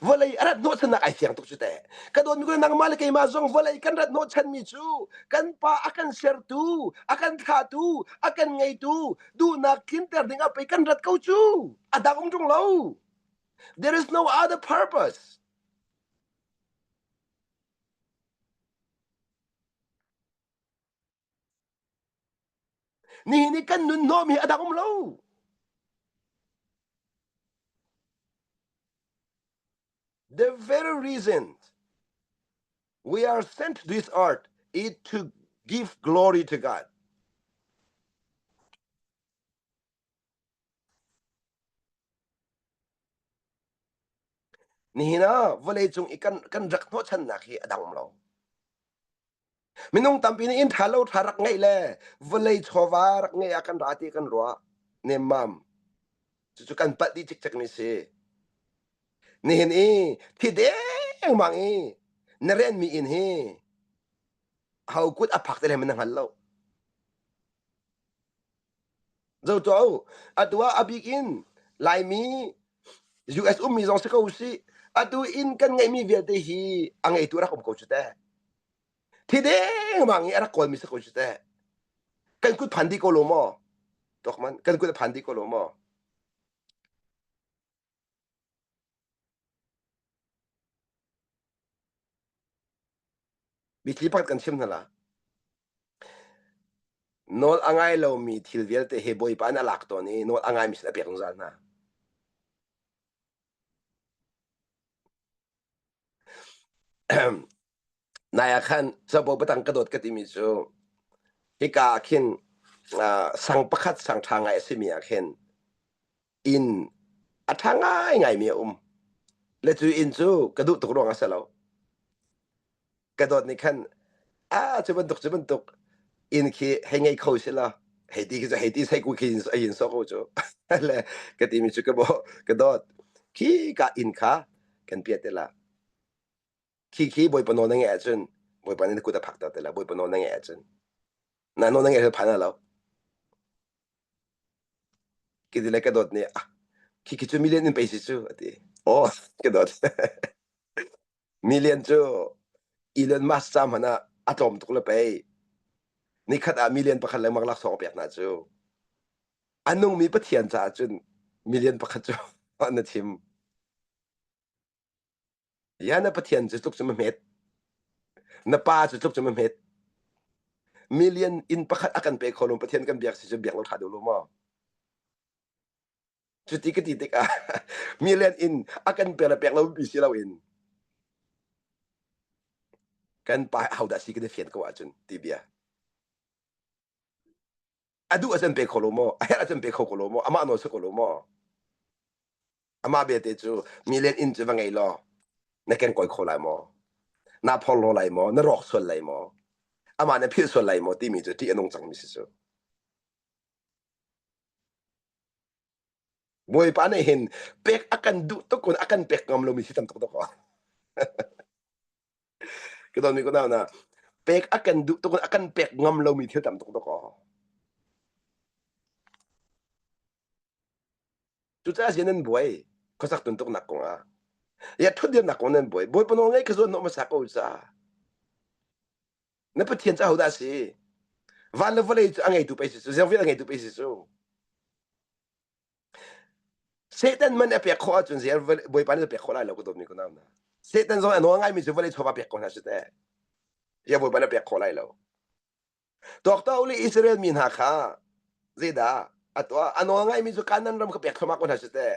Vawlei a rat hnawhchannak ai fiang tuk cu teh. Ka dawtmi kule nangmah le keimah zong vawlei kan rat hnawhchanmi cu kan Pa a kan sertu, a kan thlahtu, a kan ngeitu, duhnak tlinter dingah pei kan rat ko cu. A dang um ṭung lo. There is no other purpose. Nihin i kan nunhnawm hi a dang um lo. The very reason we are sent this earth is to give glory to God. Nihin ah vawleicung i kan kan rak hnawhchannak hi a dang lo. Minung tampi nih in ṭha lo ṭha rak ngeih le vawlei chawva rak ngeih ah kan ra ti kan ruah nemmam. Cucu kan palh dih cikcek mi si. Nihin i thi dengmang i na renmi in hi ho kut a phak te le man na hngal lo. Zo tuah atu ah abik in Laimi US ummi zong si ko sih atu in kan ngeihmi vialte hi a ngeitu rak um ko cu teh thi dengmang i a rak kawlmi si ko cu teh kan kut phan dih ko lo maw tuak man kan kut a phan dih ko lo maw Bithi pakhat kan chim hna la. Nawl a ngai lomi thil vialte he Bawipa an alak tawn i nawl a ngaimi sin a pek zungzal hna. Nai ah khan cabuai batang ka dawt ka timi cu hika ah khin ah sang pakhat sang ṭha ngai a simi ah khin inn a ṭha ngaingaimi a um. Le cu inn cu ka duh tuk ruang ah a si lo. ka dawt nih khan a cu bantuk cu bantuk in khi hei ngei kho se la hei ti khi hei ti sei ku khi ai in so ko cu le ka ti mi cu ka bo ka dawt khi ka in kha kan pia te la khi khi boi pano na nge chun boi pan in ku ta phak ta te la boi pano na nge chun na no na nge pha na lo ki ti le ka dawt ne ah khi khi chu million in pe si chu ati o ka dawt Million cu Elon Musk ca hmanh ah a tlawm tuk le pei nikhat ah million pakhat lengmang laksawng a pek hna cu a nungmi pathian caah cun million pakhat cu na thim ya na pathian cu tluk cun a hmet na pa cu tluk cun a hmet million in pakhat a kan pe kho lo pathian kan biak si cu biak lo ṭha deuh lo maw Cuti ka ti tikah mi lian in a kan per le pek lomi si loin kan pa hodah si kan i fian ko ahcun ti bia a duh a can pe kho lo maw a herh a can pe kho ko lo maw amah nawl si ko lo maw amah belte cu mi len in cu va ngei law na ken koi kho lai maw na phor lo lai maw na rawk sual lai maw amah na philh sual lai maw timi cu ṭih a nung cangmi si cu Bawipa nih hin pek a kan duh tuk in a kan pek ngam lomi si tam tuk dawk ah. Ka don mi ko na na pek a kan duh tuk in a kan pek ngam lomi thil tam tuk dawk ah. Cucaah si nan buai khosak tun tuk nak kong ah. Ya thut dir nak kong nan buai. Bawi pano ngei ka zuan no ma sa ko sa. na pathian cu ahodah a si van le vawlei cu a ngeitu pei si cu ziang vial a ngeitu pei si cu Satan man a pek khawh ahcun zei bawipa nih pek khawh lai lo ka dawmi kunau na Satan zong a nuang ngaimi cu vawlei chawva pek ko hna shi teh ya bawipa na pek khawh lai lo Doctor uli Israel mi hna kha zeidah a tuah a nawl ngaimi cu kanan ram ka pek thlumak ko hna shi teh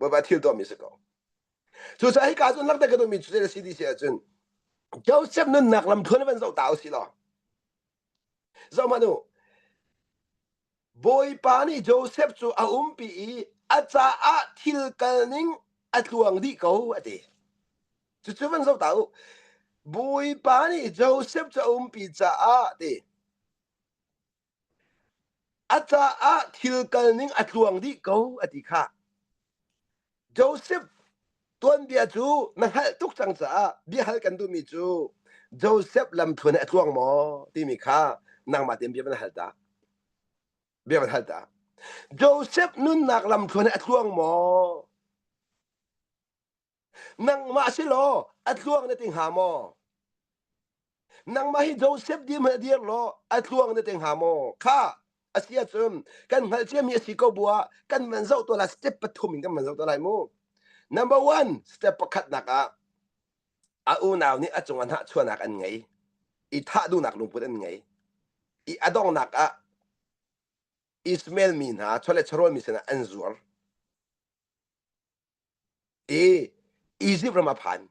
baba thil to mi se ko so sa hi ka zun lak te ka tu mi chu se si di se chun Joseph nun nak lam thon ban zo ta si lo zo ma nu bawipa ni Joseph chu a um pi i a ca ah thil kal ning a tluang di ko a ti chu chu ban zo ta u bawipa ni Joseph chu a um pi ca ah ti A caah thil kalning a tluang dih ko a ti kha. Joseph tuanbia cu na hngalh tuk cang caah biahal kan duhmi cu Joseph lamthluan he a tluang maw timi kha nangmah tein bia van hal ta. Bia van hal ta. Joseph nunnak lamthluan he a tluang maw? nangmah si law a tluang na ti hnga maw nangmah hi Joseph dim he dir law a tluang na ti hnga maw kha a si ahcun kan hngalh ciami a si ko bu ah kan man zoh to lai step pathum in kan man zoh to lai mu number one step pakhatnak ah a unau nih a cungah hnahchuahnak an ngei i thah duhnak lungput an ngei i a donghnak ah Ismail mi hna chawle charual mi sinah an zuar i Izipt ram a phan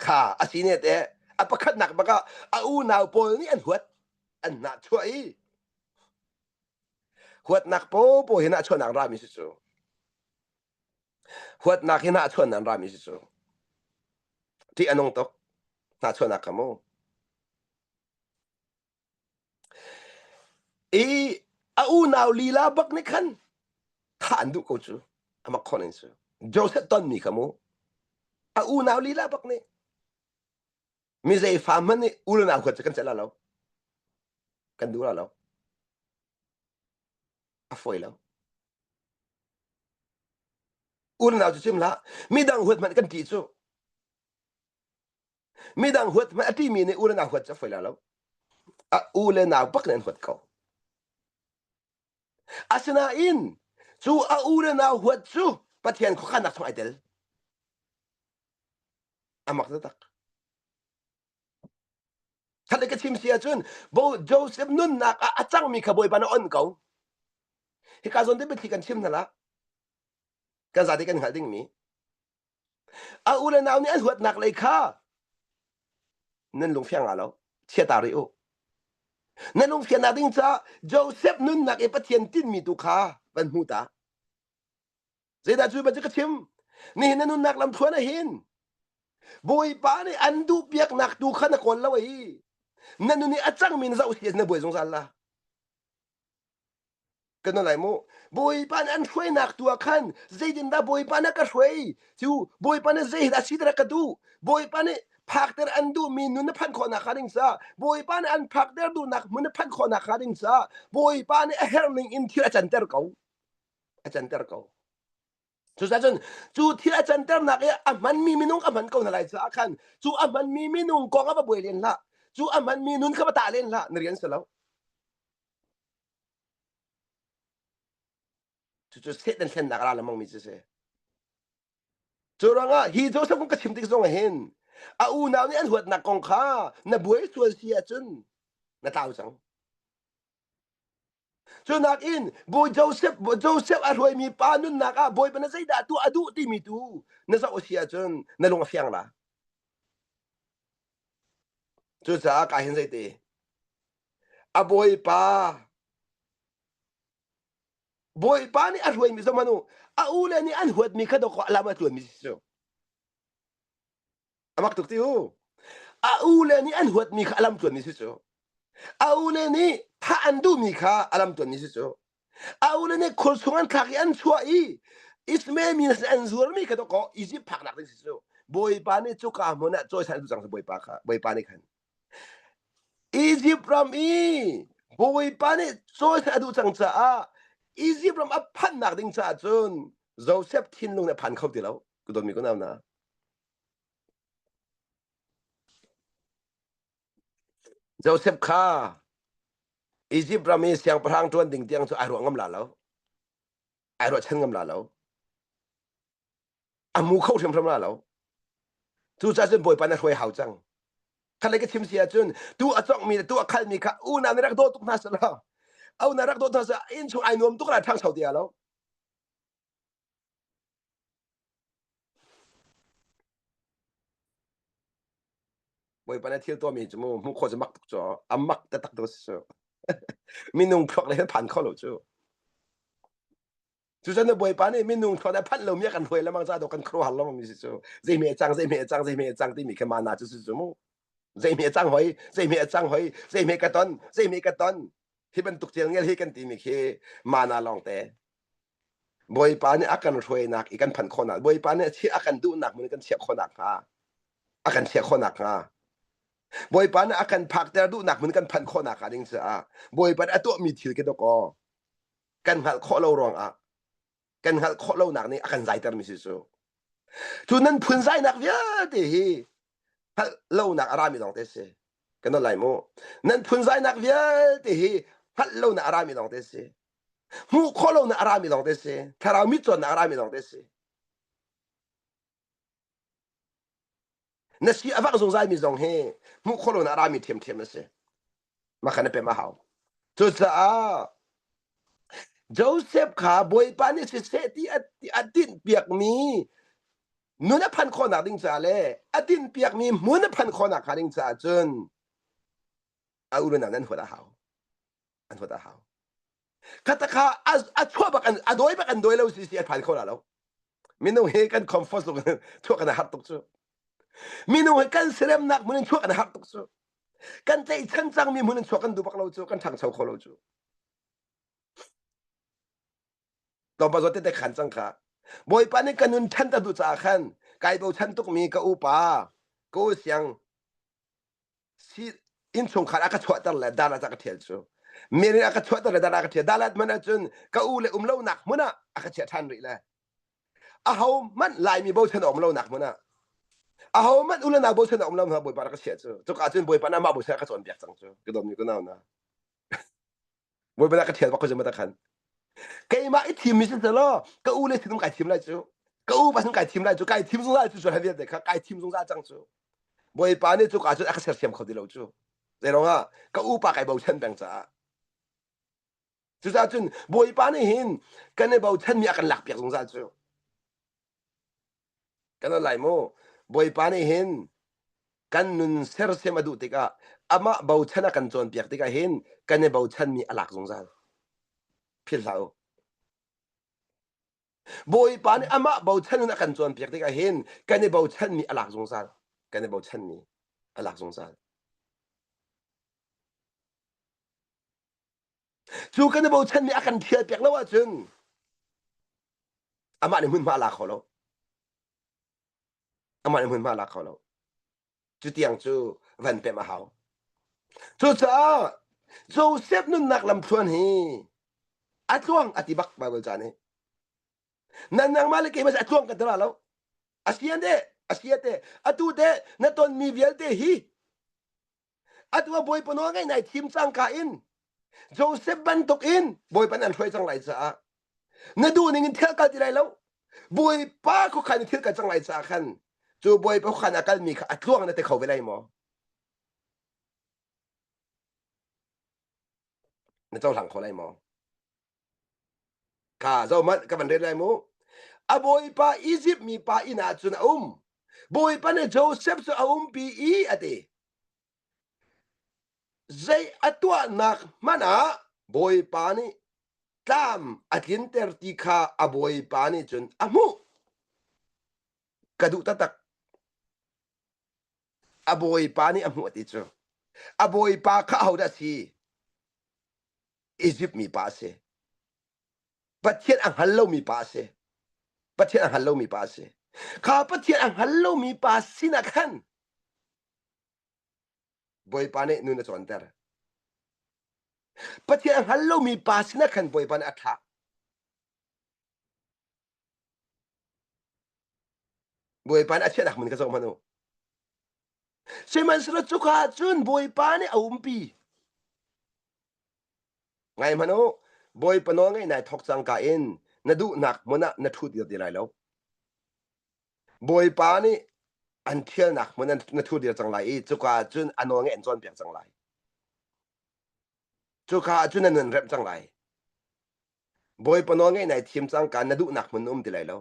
kha a sine te a pakhatnak bak ah a unau pawl nih an huat an hnahchuah i huatnak popo hi na chuahnak ram i si cu huatnak hi na chuahnak ram i si cu ṭih a nung tuk hnahchuahnak kha mu I a unau lila bak nih khan thah an duh ko cu ama khon in cu Joseph ton mi kha mu a unau lila bak nih mi zeifa hmanh nih unau huat cu kan celh lo kan duh lo a foi lo unau cu cim hlah midang huat hmanh kan ṭih cu midang huat a timi nih u le nau huat cu a foi la lo a u le nau bak nih an huat ko asinain cu a u le nau huat cu pathian khuakhannak chung ai tel a mak taktak khat le ka chim si ahcun bo joseph nunnak ah a cangmi kha bawipa na on ko hika zawn te biathli kan chim hna la kan zate kan hngalh dingmi a u le nau nih an huatnak lei kha nan lungfiang nga lo chiata rih u nan lungfiannak ding ca Joseph nunnak i Pathian tinmi tu kha van hmu ta zeidah cu ba cu ka chim nihin na nunnak lamthluan ah hin bawipa nih an duh piaknak tu kha na kawl lo i na nun i a cangmi na zoh hi na buai zungzal la kana lai mu bawipa nih an hruainak tu ah khan zeitindah bawipa nih a ka hruai cu bawipa nih zei dah si dah ka duh bawipa nih phakter an duhmi nun na phanh khawhnak hnga ding sa bawipa nih an phakter duhnak hmun na phanh khawhnak hnga ding sa bawipa nih a herh ning in thil a canter ko a canter ko Cucaah cun cu thil a canternak i a hmanmi minung ka hman ko hna lai caah khan cu a hmanmi minung kong a va buai len hlah cu a hmanmi nun kha va tah len hlah na rian si lo cucu Satan thlennak ra lengmang mi cu si cu rangah hi Joseph kong ka chim tik zongah hin a unau nih an huatnak kong kha na buai sual si ahcun na tlau cang Cunakin bawi Joseph Joseph a hruaimi pa nunnak ah bawipa na zeidah tuah a duh timi tu na zoh a si ahcun na lung a fiang la. Cucaah ka hin zeite a bawipa bawipa nih a hruaimi zong manu a u le nih an huatmi kha dawk lam a tluanmi si cu. A mak tuk ti u. A u le nih an huatmi kha a lam tuanmi si cu. A u le nih thah an duhmi kha a lam tuanmi si cu. A u le nih khur chung an thlak i an chuah i Ismail mi sin an zuarmi kha dawkaw Izipt phaknak ding si cu. Bawipa nih cuka hmun ah cawi san cang Bawipa kha Bawipa nih khan Izipt ram i Bawipa nih cawi san a duh cang caah Izipt ram a phanhnak ding caah cun Josef thinlung nih a phan kho ti lo. Ka dawtmi ka nau na. Joseph kha Egypt ram i siangpahrang ṭuan ding tiang cu ai ruah ngam la lo. Ai ruahchan ngam la lo. A mu kho hrimhrim la lo. Cucaah cun Bawipa na hruai hau cang. Khatlei ka chim si ahcun tu a congmi le tu a khalmi kha unau na rak daw tuk hna sih law unau rak daw hna sih innchung ai nuam tuk lai ṭhang sau ti lo. Bawipa le thil tuahmi cu mu hmuh khawh cu mak tuk cu a mak taktak tuk si cu minung thluak le phan kho lo cu cucun na bawipa nih minung thluak le phanh lomi kan hruai lemang ca do kan khuaruahar lemang mi si cu zeihme cang zeihme cang zeihme cang timi khi mana cu cu mu zeihme cang hoi zeihme cang hoi zeihme ka ton zeihme ka ton hi bantuk thil ngel hi kan timi khi mana lawngte Bawipa nih a kan hruainak i kan phanh khawhnak, Bawipa nih a kan duhnak hmun i kan chiah khawh nakhnga, a kan chiah khawh nakhnga, Bawipa nih a kan phakter duhnak hmun i kan phanh khawh nakhnga ding caah Bawipa nih a tuahmi thil khi dawkaw kan hngalh khawh lo ruangah kan hngalh khawh lonak nih a kan zaitermi si cu. Cu nan phunzainak vialte hi hngalh lonak a rami lawngte si. Kan nawn lai mu. Nan phunzainak vialte hi hngalh lonak a rami lawngte si. hmuh khawh lo na a rami lawng te si thlarau mit cawn na a rami lawng te si na si a vak zungzalmi zong hi hmuh khawh lo na a rami thiamthiam na si makha na pem a hau cucaah Joseph kha Bawipa nih siseh ti a din piakmi nu na phan khawhnak ding caah le a din piakmi mu na phan khawhnak hnga ding caah cun a urunak nan huat a hau an huat a hau katakha a chuah bak a dawi bak an dawi lo si si a phan kho la lo minung hi kan comfort lu kan thuah kan har tuk cu minung hi kan serem nak mun chuak an har tuk cu kan tlei chan chang mi mun chuak kan du bak lo cu kan thang chau kho lo cu to pa zo te te khan chang kha bawipa ni kanun than ta du cha khan kai bo chan tuk mi ka upa ko siang innchungkhar a ka chuahter le dalat a ka thial cu mirin a ka chuahter le dalat a ka thial dalat man ahcun ka u le um lonak hmun ah a ka chiah ṭhan rih le a ho manh laimi bochan a um lonak hmun ah a ho manh u le nau bochan a um lo hna bawipa na ka chiah cu cuka cun bawipa na mah bochan a ka cawnpiak cang cu ka dom ni ku nau na Voi bala ka thial bak ko zumma ta khan. Keimah i thim mi si law ka u le sinum kai thim lai cu. Ka u pasal kai thim lai cu kai thim zungzal cu sual vialte kha kai thim zungzal cang cu. Bawipa nih cuka cun a ka sersiam kho ti lo cu. Zeirong ah ka upa kai bochan peng caah. Cucaah cun Bawipa nih hin kan i bochan mi a kan lak piak zungzal cu. Kan al lai mu. Bawipa nih hin kan nun sersiam a duh tikah amah bochan a kan cawnpiak tikah hin kan i bochanmi a lak zungzal. Philh hlah u. Bawipa nih amah bochan in a kan cawnpiak tikah hin kan i bochanmi a lak zungzal. Kan i bochanmi a lak zungzal. Cu kan i bochanmi a kan ṭhialpiak lo ahcun amah nih hmunhma a la kho lo. Amah nih hmunhma a la kho lo. Cutiang cu van pemh a hau. Cucaah Josef nunnak lamthluan hi a tluang a ti bak Bible ca nih. Nan nang mah le kei mas a tluang kan ti ra lo. Asian de, asiate, atu de, na tonmi vialte hi atu a bawipa nawl ngaih nai thim cangka in Joseph bantuk in bawipa nih an hruai cang lai caah na duh ning in thil kal ti lai lo bawipa khuakhan in thil kal cang lai caah khan cu bawipa khuakhan a kalmi kha a tluang na te kho ve lai maw na cohlang kho lai maw kha zohmanh ka van ret lai mu a bawipa Izipt mi pa inn ah cun a um bawipa nih Joseph cu a umpi i a ti zei a tuahnak hmanh ah bawipa nih tlam a tlinter ti kha a bawipa nih cun a hmuh ka duh taktak a bawipa nih a hmuh a ti cu a bawipa kha ahodah a si Egypt mi pa a si. Pathian a hngal lomi pa a si. Pathian a hngal lomi pa a si. Kha Pathian a hngal lomi pa sinah khan Bawipa nih nun a cawnter. Pathian a hngal lomi pa sinah khan Bawipa nih a thlah. Bawipa nih a chiahnak min ka zoh hmanh u. Sihmanhsehlaw cuka cun Bawipa nih a umpi. Ngai hmanh u, Bawipa nawl ngaih nai thawk cangka in na duhnak hmun ah na ṭhut dir ti lai lo. Bawipa nih an thialnak hmun an na thur dir cang lai i cuka ah cun a nawl ngaih an cawnpiak cang lai. Cuka ah cun an nun remh cang lai. Bawipa nawlngeih nai thim cang ka na duhnak hmun na um ti lai lo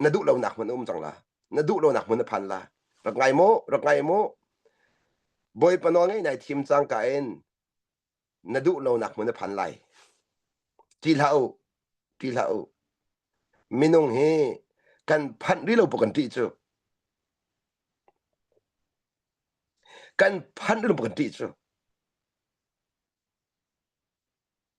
na duh lonak hmun um cang la na duh lonak hmun na phan la rak ngai mu rak ngai mu bawipa nawlngeih nai thim cang ka in na duh lonak hmun na phan lai ti hlah u ti hlah u minung hi kan phanh rih lo kan ti cu kan phanh rih lo kan ti cu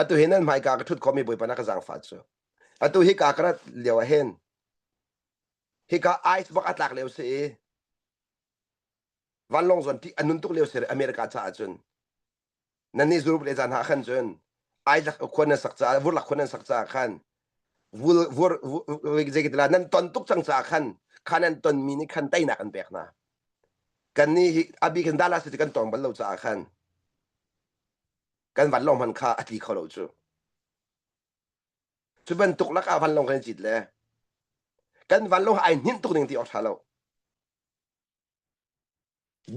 Atu hin nan hmaika ka ṭhut khawmi Bawipa na ka zaangfah cu. Atu hika ka rat lio ah hin, hika ice bak a tlak lio si i, vanlawng zuan ṭih a nun tuk lio si re America caah cun. Nannih zuruk le zan ah khan cun, ai lak khuan nan sak caah, vurlak khuan nan sak caah khan, zeikatilah nan ton tuk cang caah khan kha nan tonmi nih khan teinak an pek hna kan nih hi abi kan dala si kan tong bal lo caah khan kan van lawng man kha a tli kho lo cu cu bantuk lakah van lawng kan cit le kan van lawng ai hninh tuk ning ti awk tha lo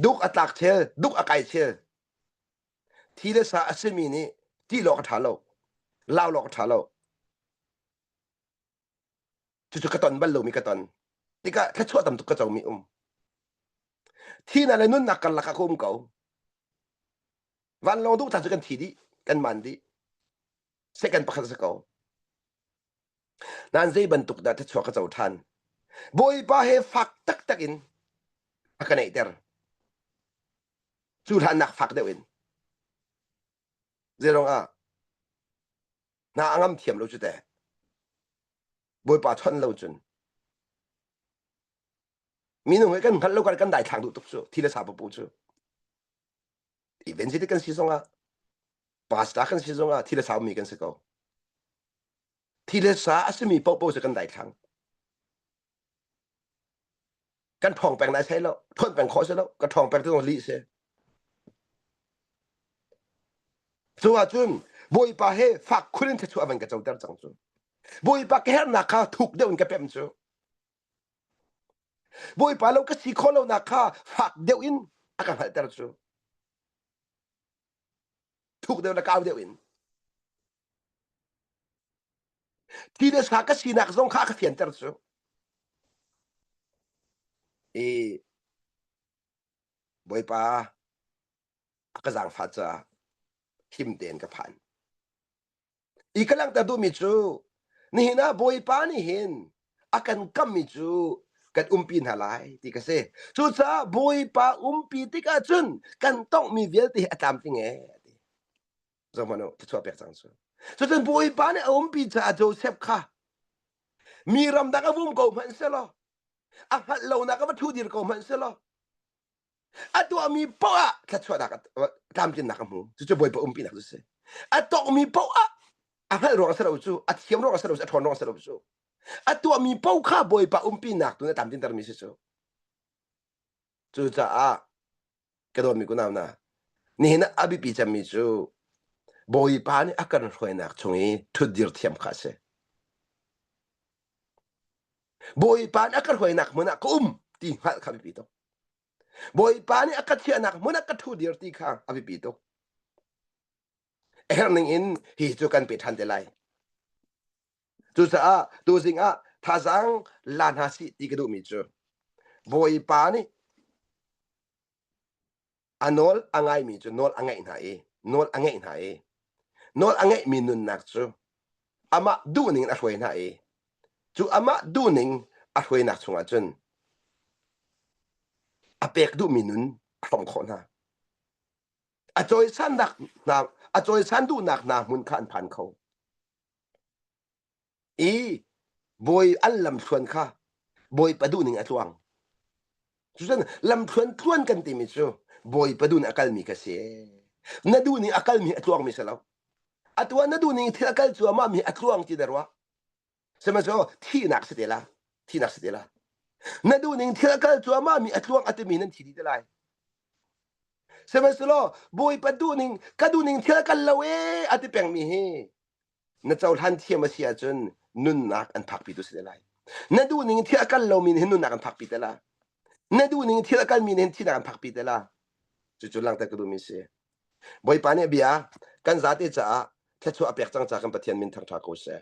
Duk a tlak thil, duk a kai thil, thi le sa a simi nih tih lawng a ṭha lo, lau lawng a ṭha lo. Cucu ka ton bal lomi ka ton. Tikah thluachuah tam tuk ka comi um. Thihnak le nunnak karlak ah ka um ko. Vanlawng duh ta cu kan thi dih, kan man dih. Second pakhat a si ko. nan zei bantuk dah thluachuah ka co ṭhan bawipa he fak taktak in a ka neihter cu hlannak fak deuh in zeirong ah na angam thiam lo cu te bawipa chon lo cun minung he kan hngalh lo kan dai thlang duh tuk cu thi le sa papu cu event vite kan si zongah pastor kan si zongah thile saumi kan si ko thile sa a simi pohpoh se kan daithlang kan thong peng nai sai lo thuat peng kho se lo ka thong peng tu li se cu a cun bawipa he fak khulin the chu avan ka choter cang cu bawipa ka hernak kha thuk deuh in ka pem cu Bawipa lo ka si khawh lonak kha fak deuh in a ka hngalhter cu. Thuk deuh le kau deuh in. Thi le sa ka sinak zong kha ka fianter cu. I Bawipa a ka zaangfah caah him tein ka phan. i ka langhter duhmi cu nihin ah bawipa nih hin a kan kammi cu kan umpi hna lai ti ka si cucaah bawipa umpi tikah cun kan tongmi vialte a tlamtling e ti zongman u thachua pek cang cu cucun bawipa nih a umpi caah Joseph kha mi ramdang a vum ko hmanh selaw a hngalh lonak a va thu dir ko hmanh selaw a tuahmi paoh ah thluachuahnak tlamtlinnak a hmu cucu bawipa umpinak cu si a tawkmi paoh ah a hngalh ruang a si lo cu a thiam ruang a si lo cu a ṭhawn ruang a si lo cu a tuahmi paoh kha bawipa umpinak tu na tlamtlintermi si cu cucaah ka dawtmi kunau na nihin a biapi cemmi cu bawipa nih a kan hruainak chung i ṭhutdir thiam kha a si Bawipa nih a ka hruainak hmun ah ka um ti hngalh kha a biapi tuk. Bawipa nih a ka chiahnak hmun ah ka ṭhu dir ti kha a biapi tuk. A herh ning in hi cu kan pe ṭhan te lai. Cucaah tu zing ah thazang la hna si ti ka duhmi cu Bawipa nih a nawl a ngaimi cu nawl a ngaih hna i nawl a ngaih hna i nawl a ngaihmi nunnak cu amah duhning in a hruai hna i cu amah duhning a hruainak chungah cun a pek duhmi nun a hrong khawh hna a cawisan hna a cawisan duhnak hna hmun kha an phan kho i bawi al lamthluan kha bawipa duh ning a tluang. Cucun lamthluan tluan kan timi cu bawipa duh nih a kalmi ka si. Na duh ning a kalmi a tluangmi si lo. Atu ah na duh ning thil a kal cuahmah mi a tluang ti na ruah. Sihmanhsehlaw thihnak si te la, thihnak si te la. Na duh ning thil a kal cuahmah mi a tluang a timi nan thi dih te lai. Sihmanhsehlaw bawipa duh ning ka duh ning thil a kal lo ee a ti pengmi hi Na cohlan thiam a si ahcun nunnak an phakpitu si te lai. Na duh ning thil a kal lomi nih hin nunnak an phakpi te la. Na duh ning thil a kalmi nih hin thihnak an phakpi te la. Cucu langter ka duhmi si. Bawipa nih bia kan zate caah thluachuah a pek cang ca kan Pathian min thangtha ko seh.